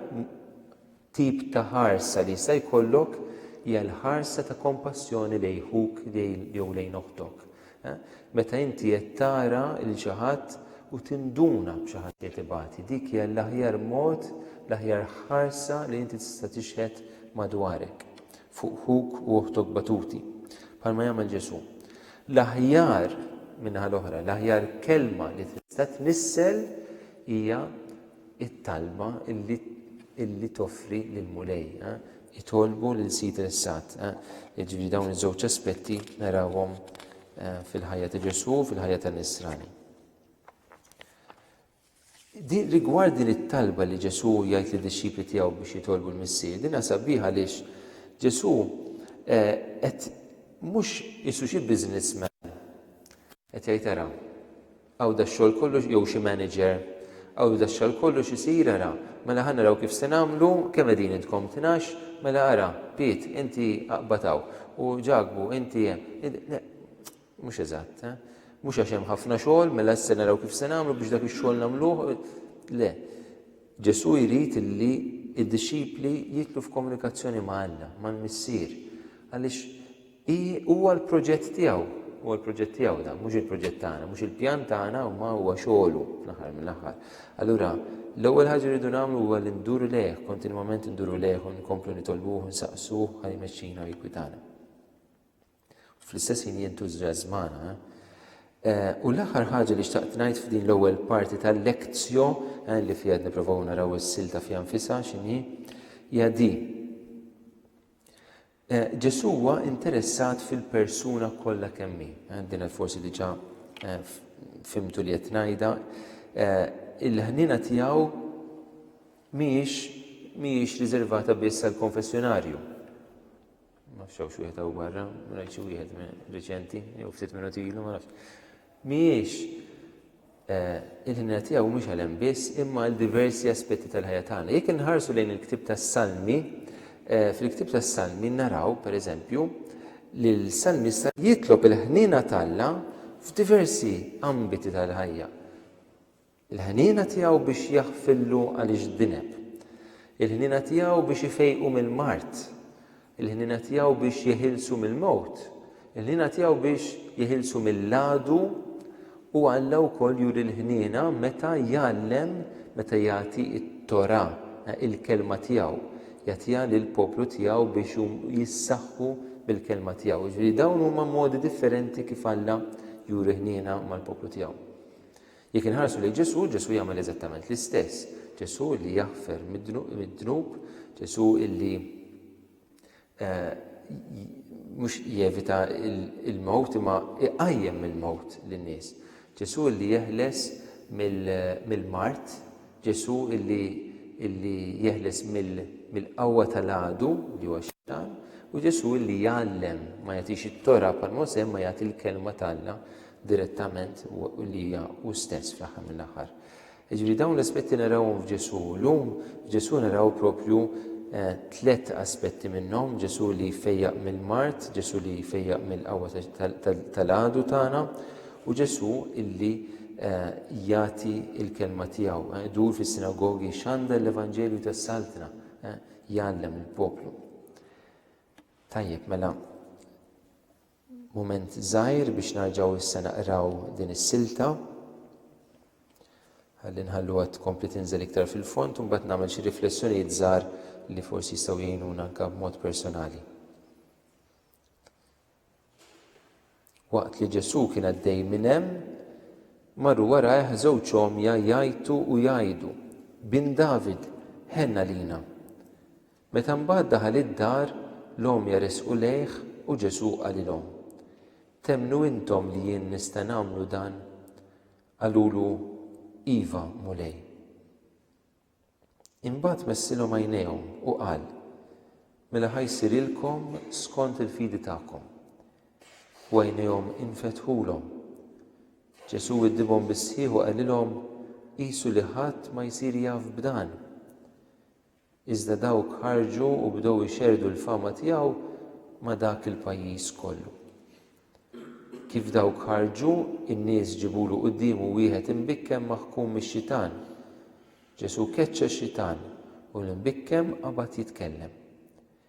Speaker 1: tip ta' ħarsa li jista' jkollok hija l-ħarsa ta' kompassjoni lejn ħuk jew lejn oħtok. Meta inti qed tara 'l xi ħadd u tinduna b'xi ħadd li qed ibati, dik hija l-aħjar mod, l-aħjar ħarsa li inti tista' tixhed madwarek fuq ħuk u oħtok batuti, bħalma jagħmel Ġesù. L-aħjar, min-naħa l-oħra, l-aħjar kelma li tista' tnissel hija it-talba li toffri lill-Mulej. Itolbu lil Sid il-Sad. Jiġifieri dawn iż-żewġ aspetti narawhom fil-ħajja ta' Ġesù u fil-ħajja ta' Nisrani. Rigward din it-talba li Ġesù jgħid li dixxipli tiegħu biex jitolbu l-Missier, din sabiħ għaliex Ġesù qed mhux isu xi businessman Qed jgħid ara, hawn dax-xogħol kollu x-, jew xi manager, hawn dax-xogħol kollu x'isir ara, mela ħa naraw kif se nagħmlu, kemm qegħdin intkom tnax, mela ara, Piet, inti aqbad hawn, u Ġakbu, inti hemm. Mhux eżatt, eh? Mhux għax hemm ħafna xogħol, mela issa naraw kif se nagħmlu biex dak ix-xogħol nagħmluh. Le. Ġesù jrid li d-dixxipli jidħlu f'komunikazzjoni ma' Alla, mal-Missier, għaliex Hi, huwa l-proġett tiegħu. Huwa l-proġett tiegħu dan, mhux il-proġett tagħna, mhux il-pjan tagħna imma huwa xogħlu fl-aħħar mill-aħħar. Allura, l-ewwel ħaġa li rridu nagħmlu huwa li nduru lejh, kontinwament nduru lejh u nkomplu nitolbuh u nsaqsuh ħalli jmexxina u jgwidana. Fl-istess ħin jintuża żmana, eh? Eh, u l-aħħar ħaġa li xtaqt ngħid f'din l-ewwel parti tal-lekzjo eh, li fiha nipprovaw naraw is-silta fiha nfisha x'inhi hija di. Ġesù huwa interessat fil-persuna kollha kemm hi. Din qed forsi diġà fhimtu li qed ngħidha. Il-ħniena tiegħu mhijiex mhijiex riservata biss għall-konfessjonarju. Ma nafx hawn xi wieħed hawn barra, rajt xi wieħed riċenti, jew ftit minuti ilu, ma nafx. Mhijiex il-ħniena tiegħu mhux għal hemm biss, imma għal diversi aspetti tal-ħajja tagħna. Jekk inħarsu lejn il-ktieb tas-Salmi, fil-ktieb tas-Salmi naraw, per eżempju, li l-Salmista jitlob il-ħniena t'Alla f'diversi ambiti tal-ħajja. Il-ħniena tiegħu biex jaħfillu għaliex dineb. Il-ħniena tiegħu biex ifejqu mill-mard. Il-ħniena tiegħu biex jeħilsu mill-mewt. Il-ħniena tiegħu biex jeħilsu mill-għadu u Alla wkoll juri l-ħniena meta jgħallem, meta jagħti t-Torah, eh, il-kelma tiegħu, jagħtiha lill-poplu tiegħu biex jissaħħu bil-kelma tiegħu. Jiġifieri dawn huma modi differenti kif Alla juri ħniena mal-poplu tiegħu. Jekk inħarsu lejn Ġesù, Ġesù jagħmel eżattament l-istess. Ġesù li jaħfer mid-dnub, Ġesù illi eh, mhux jevita il-mewt imma iqajjem mill-mewt lin-nies. Ġesù li jeħles mill-mart, Ġesù illi illi jeħles mill-qawwa tal-għadu li huwa xitan, u Ġesù illi jgħallem ma jagħtix it-tora bħal Mosè ma jagħti l-kelma tal-Alla direttament li hija hu stess fl-aħħar mill-aħħar. Jiġifieri dawn l-aspetti narawhom f'Ġesù. Llum f'Ġesù naraw propju eh, tliet aspetti minnhom, Ġesù li jfejjaq mill-mart, Ġesù li jfejjaq mill-qawwa tal-għadu tagħna u Ġesù illi eh, jagħti l-kelma tiegħu, eh, dur fis-sinagogi xanda l-Evanġelju tas-Saltna, jgħallem il-poplu. Tajjeb, mela, Mument żgħir biex narġgħu issa naqraw din is-silta. Ħalli nħalluha tkompli tinżel iktar fil-fond u mbagħad nagħmel xi riflessjonijiet żgħar li forsi jistgħu jgħinuna anke b'mod personali. Waqt li Ġesù kien għaddej minn hemm, marru warajh żewġ omja jgħajtu u jgħidu, Bin David, ħenna lina. Meta mbagħad daħal id-dar, l-għomja resqu lejh u Ġesù qalilhom, Temmnu intom li jien nista' nagħmlu dan? Qalulu, Iva, Mulej. Imbagħad messilhom għajnejhom u qal, Mela ħa jsirilkom skont il-fidi tagħkom. U għajnejhom infetħulhom. Ġesù widdibhom bis-sħiħ u qalilhom, Qisu li ħadd ma jsir jaf b'dan. Iżda dawk ħarġu u bdew ixerrdu l-fama tiegħu ma' dak il-pajjiż kollu. Kif dawk ħarġu, in-nies ġibulu quddiemu wieħed imbikkem maħkum mix-xitan. Ġesù keċċa x-xitan u l-imbikkem qabad jitkellem.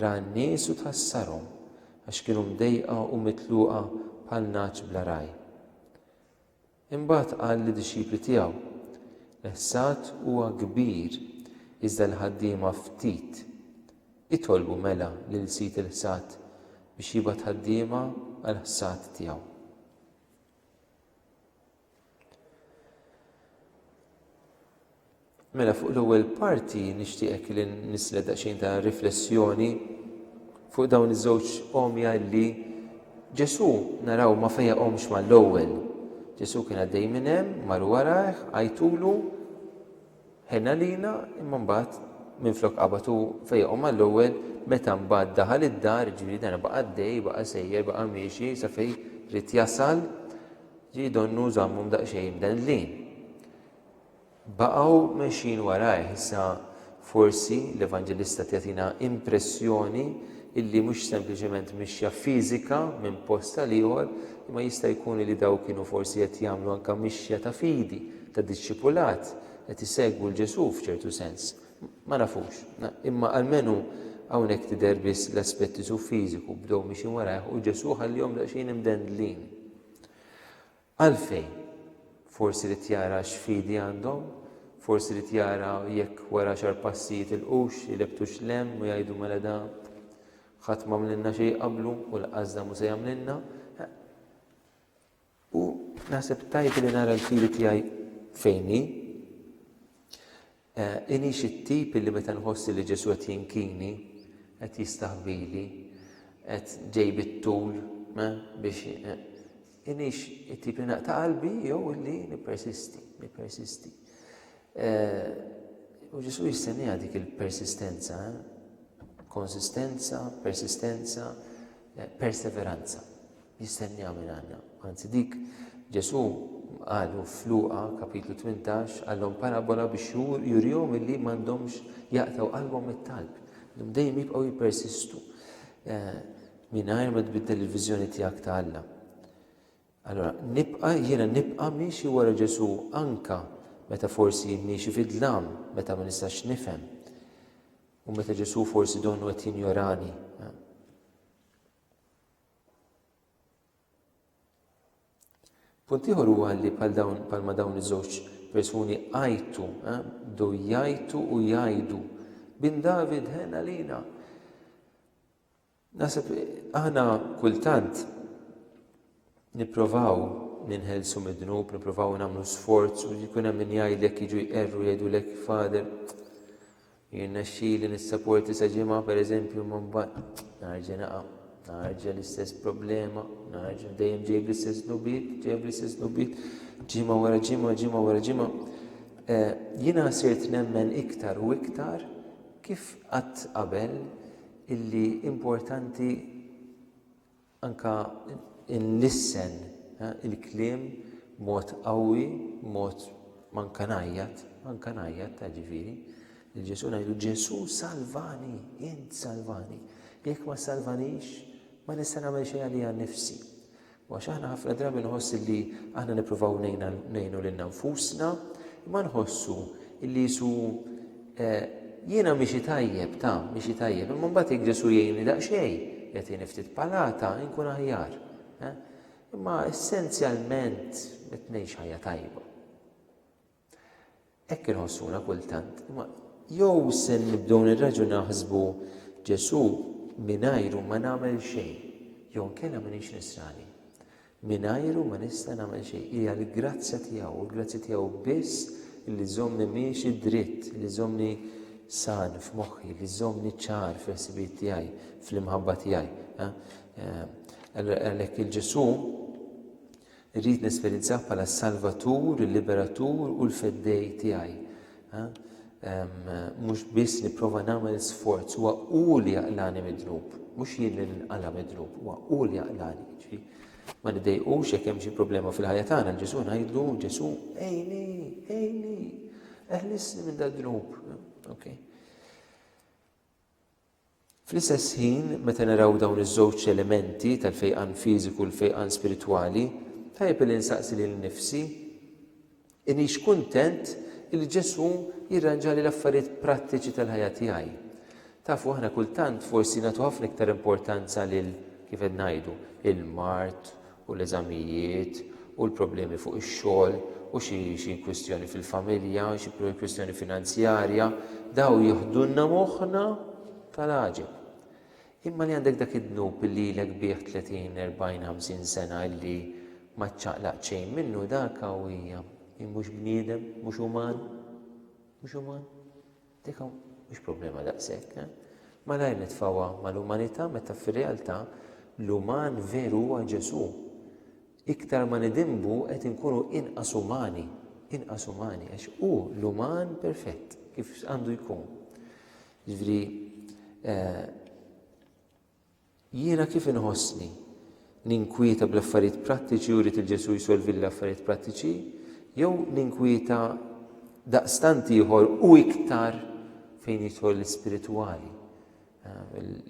Speaker 1: Ra n-nies u tħassarhom, għax kienu mdejqa u mitluqa bħal nagħaġ bla ragħaj. Imbagħad qal lid-dixxipli tiegħu, L-ħsad huwa kbir, iżda l-ħaddiema ftit. Itolbu mela lil sid il-ħsad biex jibgħat ħaddiema għall-ħsad tiegħu. Mela fuq l-ewwel parti nixtieqek li nislet daqsxejn ta' riflessjoni fuq dawn iż-żewġ omja li Ġesu naraw ma fejaqhomx mal-ewwel. Ġesu kien għaddej minn hemm, mar warajh, għajtulu, Ħenn għalina, imma mbagħad minflok qabad hu fejjaqhom għall-ewwel meta mbagħad daħal id-dar, jiġifieri dan baqa' għaddej, baqa' sejjer, baqa' miexi sa fejn ried jasal, jiġifieri donnu żammhom daqsxejn mdendlin. Baqgħu mexjin warajh, issa forsi l-Evanġelista tagħtina impressjoni illi mhux sempliċement mixja fiżika minn post għal ieħor, imma jista' jkun li daw kienu forsi qed jagħmlu anke mixja ta' fidi, ta' dixxipulat qed isegwu 'l Ġesù f'ċertu sens. Ma nafux. Imma almenu hawnhekk tidher biss l-aspett isu fiżiku bdew mixin warajh u Ġesù ħallihom daqsxejn imdendlin. Għalfejn? Forsi rid jara x'fidi għandhom? Forsi rid jara jekk wara xar passi jitilqux, ilebbtux l-hemm u jgħidu mela da ħadd m'għamlilna xejn qablu u l-qasda mhu se jagħmlilna. U naħseb tajb li nara l-fidi tiegħi fejn hi. Eh, inix it-tip li meta nħossi li Ġesu qed jinkini, qed jistaħbili, qed ġej bit-tul eh, biex eh, inix it-tip li naqta' qalbi jew li nippersisti, nippersisti. U Ġesu jistenniha dik il-persistenza, eh? konsistenza, persistenza, eh, perseveranza. Jistenniha minn għandna. Anzi dik Ġesu qalu f'Luqa kapitlu 18 għallhom parabola biex jurihom illi m'għandhomx jaqtaw qalbhom mit-talb. Dum dejjem jibqgħu jippersistu eh, mingħajr ma tbiddel il-viżjoni tiegħek ta' Alla. Allura nibqa' jiena nibqa' miexi wara Ġesù anke meta forsi miexi fid-dlam, meta ma nistax nifhem, u meta Ġesù forsi donnu qed jinjorani. Punt ieħor huwa li bħal dawn bħal ma dawn iż-żewġ persuni għajtu, eh, do jajtu u jajdu. Bin David ħena lina. Naħseb aħna kultant nipprovaw ninħelsu mid-dnub, nipprovaw nagħmlu sforz u jkun hemm min jgħidlek jiġu jqerru jgħidulek fader. Jien nexxili nissaporti sa ġimgħa pereżempju ma mbagħad narġa' naqa' narġa' l-istess problema, narġa' dejjem ġejb l-istess nubiet, ġejb l-istess nubiet, ġimgħa wara ġimgħa, ġimgħa wara ġimgħa. Eh, jiena sirt nemmen iktar u iktar kif qatt qabel illi importanti anka nlissen il-kliem mod qawwi, mod manka ngħajjat, manka ngħajjat ta' ġifieri. Il-Ġesu ngħidu Ġesu salvani, int salvani. Jekk ma salvanix, ma nista' nagħmel xejn għalija nnifsi. Għax aħna ħafna drabi nħoss illi aħna nippruvaw ngħinu lilna nfusna, imma nħossu illi Ġesu eh, jiena miexi tajjeb, ta' miexi tajjeb, imma mbagħad jekk Ġesu jgħinni daqsxejn, jagħtini ftit palata, inkun aħjar. Eh. Imma essenzjalment qed ngħix ħajja tajba. Hekk inħossuna kultant, imma jew se nibdew nirreġgħu naħsbu Ġesù mingħajru ma nagħmel xejn, jew inkella m'iniex nisrani. Mingħajru ma nista' nagħmel xejn, hija l-grazzja tiegħu, u l-grazzja tiegħu biss li żommni miexi dritt, li żommni san f'moħħi, li żommni ċar fil-ħsibijiet tiegħi, fl-imħabba tiegħi. Eh, għalhekk il-Ġesù Irrid nesperjenzah bħala s-Salvatur, il-Liberatur u l-Feddej tiegħi. Mhux biss nipprova nagħmel sforz, huwa hu li jaqlani mid-dnub, mhux jien li nqala mid-dnub, huwa hu li jaqlani. Ġifieri, ma nidejqux jekk hemm xi problema fil-ħajja tagħna, Ġesu ngħidlu, Ġesu, ejni, ejni, eħlisni minn dad-dnub. Okay. Fl-istess ħin, meta naraw dawn iż-żewġ elementi tal-fejqan fiżiku u l-fejqan spiritwali, tajjeb illi nsaqsi lili nnifsi, Inix kuntent illi Ġesù jirranġali l-affarijiet prattiċi tal-ħajja tiegħi? Tafu, aħna kultant forsi nagħtu ħafna iktar importanza lil, kif qed ngħidu, il-mard u l-eżamijiet, u l-problemi fuq ix-xogħol, u xi xi kwistjoni fil-familja, xi kwistjoni finanzjarja, daw jiħdulna moħħna tal-għaġeb. Imma li għandek dak id-dnub li lilek bih 30, 40, 50 sena illi ma ċċaqlaq xejn minnu dak qawwija. Hi mhux bniedem, mhux uman, mhux uman. Dik hawn mhix problema daqshekk. Malajr nitfgħuha mal-umanità meta fir-realtà l-uman veru huwa Ġesù. Iktar ma nidinbu qed inkunu inqas umani, inqas umani għax hu l-uman perfett kif għandu jkun. Jiġifieri eh, Jiena kif inħossni? Ninkwieta bl-affarijiet prattiċi u rrid lil Ġesù jsolvili l-affarijiet prattiċi, jew ninkwieta daqstant ieħor u iktar fejn jidħol l-ispiritwali,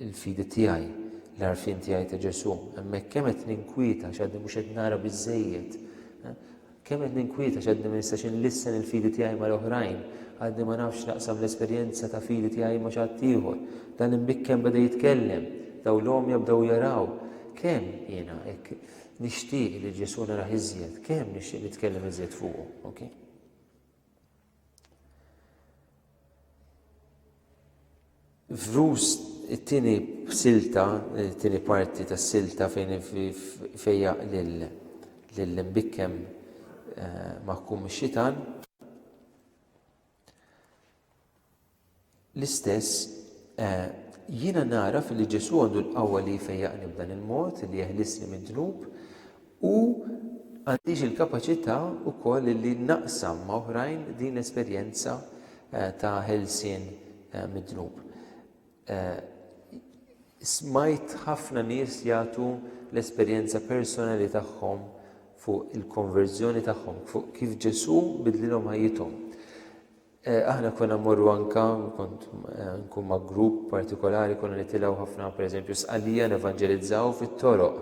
Speaker 1: il-fidi tiegħi, l-għarfien tiegħi ta' Ġesù? Hemmhekk kemm qed ninkwieta għax għadni mhux qed nara biżżejjed. Kemm qed ninkwieta x'għadni ma nistax inlissen il-fidi tiegħi mal-oħrajn, għadni ma nafx naqsam l-esperjenza ta' fidi tiegħi ma' xi ħaddieħor. Dan l-imbikken beda jitkellem. Dawn l-għomja bdew jaraw. Kemm jiena hekk nixtieq li Ġesù narah iżjed, kemm nixtieq nitkellem iżjed fuqu. F'Rus it-tieni silta, it-tieni parti tas-silta fejn fejjaq lill-imbikkem eh, maħkum ix-xitan. L-istess, eh, jiena nagħraf li Ġesù għandu l-qawwa li jfejjaqni b'dan il-mod, li jeħlisni mid-dnub, u għandix il-kapaċità wkoll li naqsam ma' oħrajn din l-esperjenza eh, ta' ħelsien eh, mid-dnub. Eh, smajt ħafna nies jagħtu l-esperjenza personali tagħhom fuq il-konverżjoni tagħhom, fuq kif Ġesù bidlilhom ħajjithom. Aħna konna mmorru anka, kont nkun ma' grupp partikolari, konna nitilgħu ħafna pereżempju Sqallija nevanġelizzaw fit-toroq.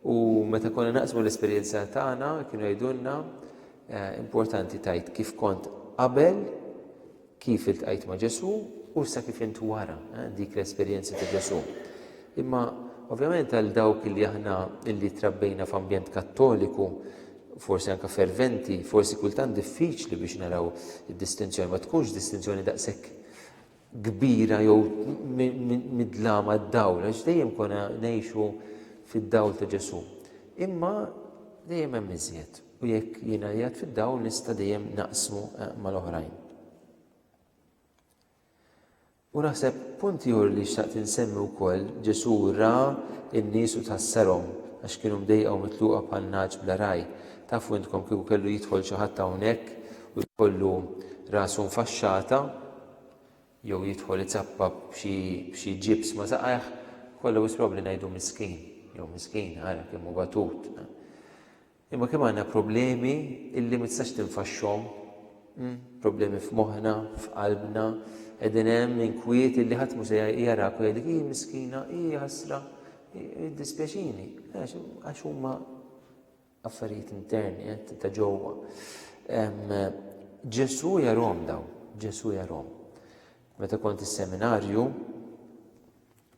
Speaker 1: U meta konna naqsmu l-esperjenza tagħna kienu jgħidulna importanti tajt kif kont qabel, kif iltqajt ma' Ġesù u sa kif int wara dik l-esperjenza ta' Ġesù. Imma ovvjament għal dawk li aħna li trabbejna f'ambjent Kattoliku, forsi anke ferventi, forsi kultant diffiċli biex naraw id-distinzjoni, ma tkunx distinzjoni daqshekk kbira jew mid-dlama d-dawl, għax dejjem konna ngħixu fid-dawl ta' Ġesu. Imma dejjem hemm iżjed u jekk jiena jgħid fid-dawl nista' dejjem naqsmu eh, mal-oħrajn. U naħseb punt ieħor li xtaqt insemmi wkoll, Ġesù ra n-nies u tħassarhom għax kienu mdejqa u mitluqa bħal nagħaġ bla ragħaj. Tafu intkom kieku kellu jidħol xi ħadd hawnhekk u jkollu rasu mfaxxata jew jidħol iċappa b'xi b'xi ġibs ma' saqajh, kollha wisq probabbli ngħidu miskin jew miskina ara kemm hu batut. Imma kemm għandna problemi illi ma tistax tinfaxxhom, problemi f'moħħna, f'qalbna, qegħdin hemm inkwiet illi ħadd mhux se jarak u jgħidlek hi miskina, hi ħasra, dispjaċini, għax huma affarijiet interni eh, ta' ġewwa. Ġesu jarom daw, Ġesu jarom. Meta kont is-seminarju,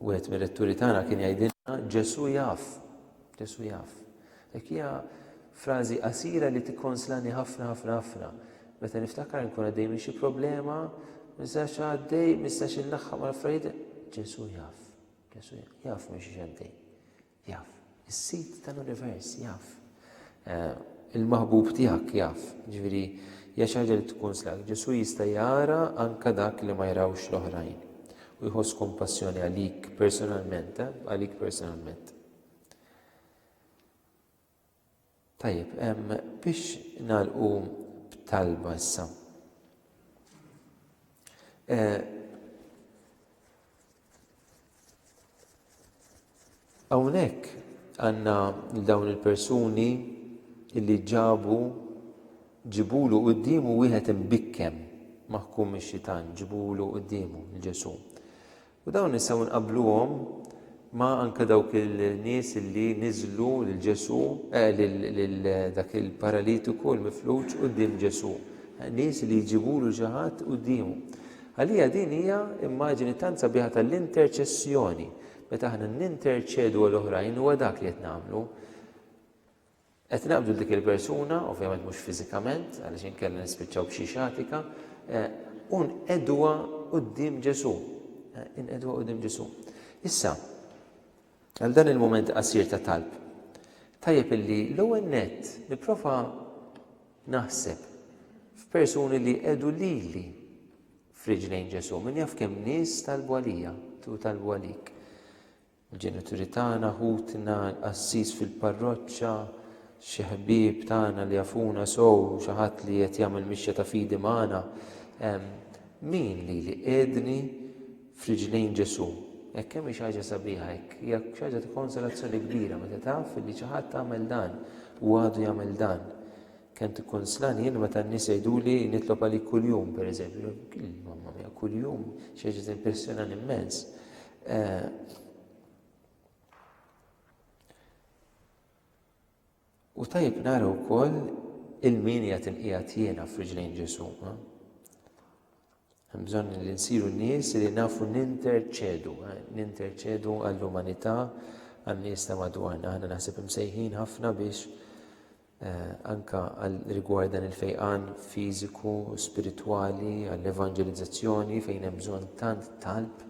Speaker 1: Wieħed mir-retturi tagħna kien jgħidilna Ġesù jaf, Ġesù jaf. Dik hija frażi qasira li tikkonslani ħafna ħafna ħafna. Meta niftakar nkun għaddej minn xi problema, mistax għaddej, mistax inlaħħaq mal-affarijiet, Ġesù jaf, Ġesù jaf minn xi għaddej. Jaf. Is-Sid tal-univers jaf. Il-maħbub tiegħek jaf. Jiġifieri, hija xi ħaġa li tikkunslak. Ġesù jista' jara anke dak li ma jrawx l-oħrajn u jħoss kumpassjoni għalik personalment, għalik personalment. Tajjeb, ehm, biex nagħlqu b'talba issa. Eh, hawnhekk għandna dawn il-persuni li ġabu ġibulu quddiemu wieħed imbikkem maħkum ix-xitan, ġibulu quddiemu l-Ġesu. U dawn nistgħu nqabbluhom ma' anke dawk il-nies li niżlu lil Ġesù, eh, lil dak il-paralitiku l-mifluġ quddiem Ġesù. Eh, nies li jġibulu xi ħadd quddiemu. Għalija din hija immaġini tant sabiħa tal-interċessjoni. Meta aħna ninterċedu għal oħrajn huwa dak li qed nagħmlu. Qed ngħidu dik il-persuna, ovvjament mhux fiżikament, għaliex inkella nispiċċaw b'xi xatika, u nqegħduha quddiem Ġesù. Inqegħduha quddiem Ġesù. Issa, għal dan il-mument qasir ta' talb, tajjeb illi l-ewwel nett nipprova naħseb f'persuni li qegħdu lili f'riġlejn Ġesù. Min jaf kemm nies talbu għalija, tu talbu għalik. Il-ġenituri tagħna, ħutna, il-qassis fil-parroċċa, xi ħbieb tagħna li jafuna sew, xi ħadd li qed jagħmel mixja ta' fidi magħna. Min li li qiegħdni f'riġlejn Ġesù? Hekk hemm xi ħaġa sabiħa hekk, hija xi ħaġa ta' konsolazzjoni kbira meta taf li xi ħadd għamel dan u għadu jagħmel dan. Kemm tikkunslani jien meta n-nies jgħiduli nitlob għalik kuljum, pereżempju. Mamma mia, kuljum, xi ħaġa timpressjonani immens. Eh, u tajjeb nara wkoll il-min jgħat inqiegħed jiena f'riġlejn Ġesu. Eh? Hemm bżonn li nsiru nies li nafu ninterċedu, eh, ninterċedu għall-umanità għan-nies ta' madwarna. Aħna naħseb imsejħin ħafna biex anke għal rigward dan il-fejqan fiżiku, spiritwali, għall-evanġelizzazzjoni fejn hemm bżonn tant talb,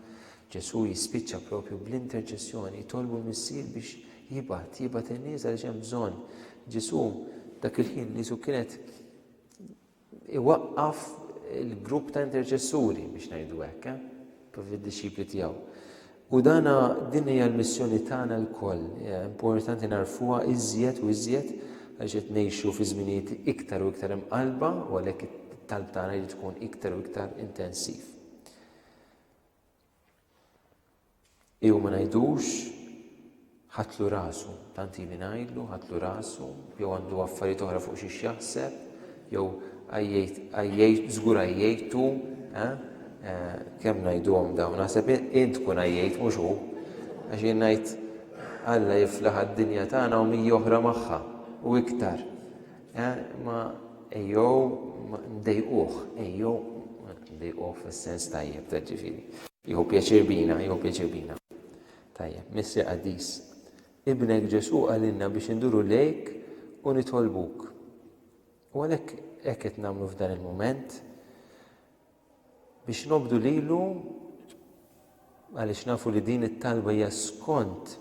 Speaker 1: Ġesù jispiċċa propju bl-interċessjoni, jitolbu l-Missier biex jibgħat, jibgħat in-nies għaliex hemm bżonn. Ġesù dak il-ħin niesu kienet iwaqqaf il-grupp ta' interċessuri biex ngħidu hekk, eh? propju d-dixxipli tiegħu. U dana din hija l-missjoni tagħna lkoll. Importanti narfuha iżjed u iżjed għax qed ngħixu fi żminijiet iktar u iktar imqalba u għalhekk it-talb tagħna jrid tkun iktar u iktar intensiv. Iew ma ngħidux, ħadtlu rasu, tant ili ngħidlu, ħadtlu rasu, jew għandu affarijiet oħra fuq xiex jaħseb, jew għajjejt, żgur għajjejtu, eh? eh kemm ngħiduhom dawn, naħseb int tkun għajjejt mhux hu, għax jien ngħid Alla jiflaħ għad-dinja tagħna u mija oħra magħha u iktar. Eh, ma ejjew ma ndejquh, ejjew ma ndejquh fis-sens tajjeb ta' ġifieri. Jieħu pjaċir bina, jieħu pjaċir bina. Tajjeb, Missir Qaddis, Ibnek Ġesù qalilna biex induru lejk u nitolbuk. U għalhekk hekk qed nagħmlu f'dan il-mument biex nobdu lilu għaliex nafu li din it-talba hija skont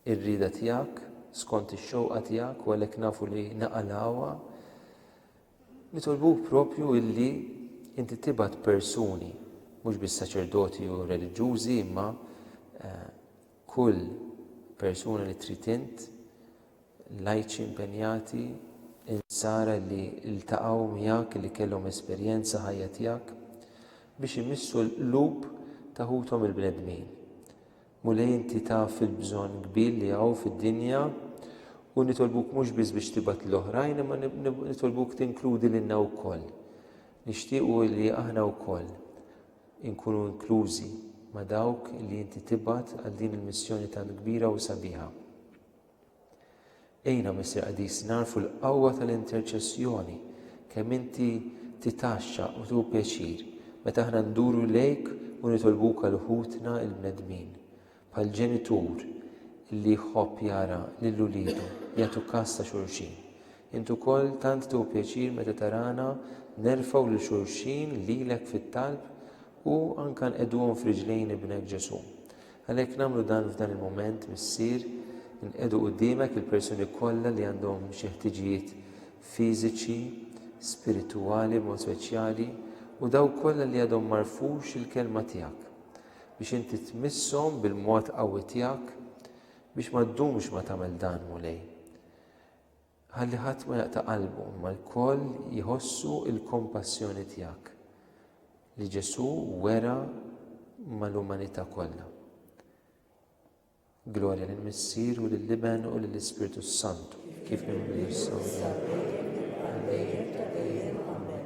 Speaker 1: ir-rieda tiegħek, skont ix-xewqa tiegħek u għalhekk nafu li naqalgħuha, nitolbuk proprju illi inti tibgħat persuni, mhux biss saċerdoti u reliġjużi imma eh, kull persuna li trid int, lajċi impenjati, insara li ltaqgħu miegħek li kellhom esperjenza ħajja tiegħek biex imissu l-qlub ta' ħuthom il-bnedmin. Mulej inti taf il-bżonn kbir li hawn fid-dinja u nitolbuk mhux biss biex tibgħat lil oħrajn imma nitolbuk tinkludi lilna wkoll. Nixtiequ li aħna wkoll inkunu inklużi ma' dawk li inti tibgħat għal din il-missjoni tant kbira u sabiħa. Għinna, Missier Qaddis, nagħrfu l-qawwa tal-interċessjoni, kemm inti titgħaxxa u tieħu pjaċir meta aħna nduru lejk u nitolbuk għal ħutna l-bnedmin, bħal ġenitur li jħobb jara lil uliedu jagħtu kas ta' xulxin. Int ukoll tant tieħu pjaċir meta tarana nerfgħu lil xulxin lilek fit-talb u anke nqegħduhom f'riġlejn Ibnek Ġesù. Għalhekk nagħmlu dan f'dan il-mument, Missier, inqiegħdu quddiemek il-persuni kollha li għandhom xi ħtiġijiet fiżiċi, spiritwali b'mod speċjali, u dawk kollha li għadhom ma rfux il-Kelma tiegħek, biex inti tmisshom bil-mod qawwi tiegħek, biex ma ddumx ma tagħmel dan, Mulej. Ħalli ħadd ma jaqta' qalbu, imma lkoll jħossu l-kompassjoni tiegħek li Ġesù wera mal-umanità kollha. Glorja lill-Missier u lill-Iben u lill-Ispirtu s-Santu, kif inhu issa u dejjem u għal dejjem ta' dejjem. Amen.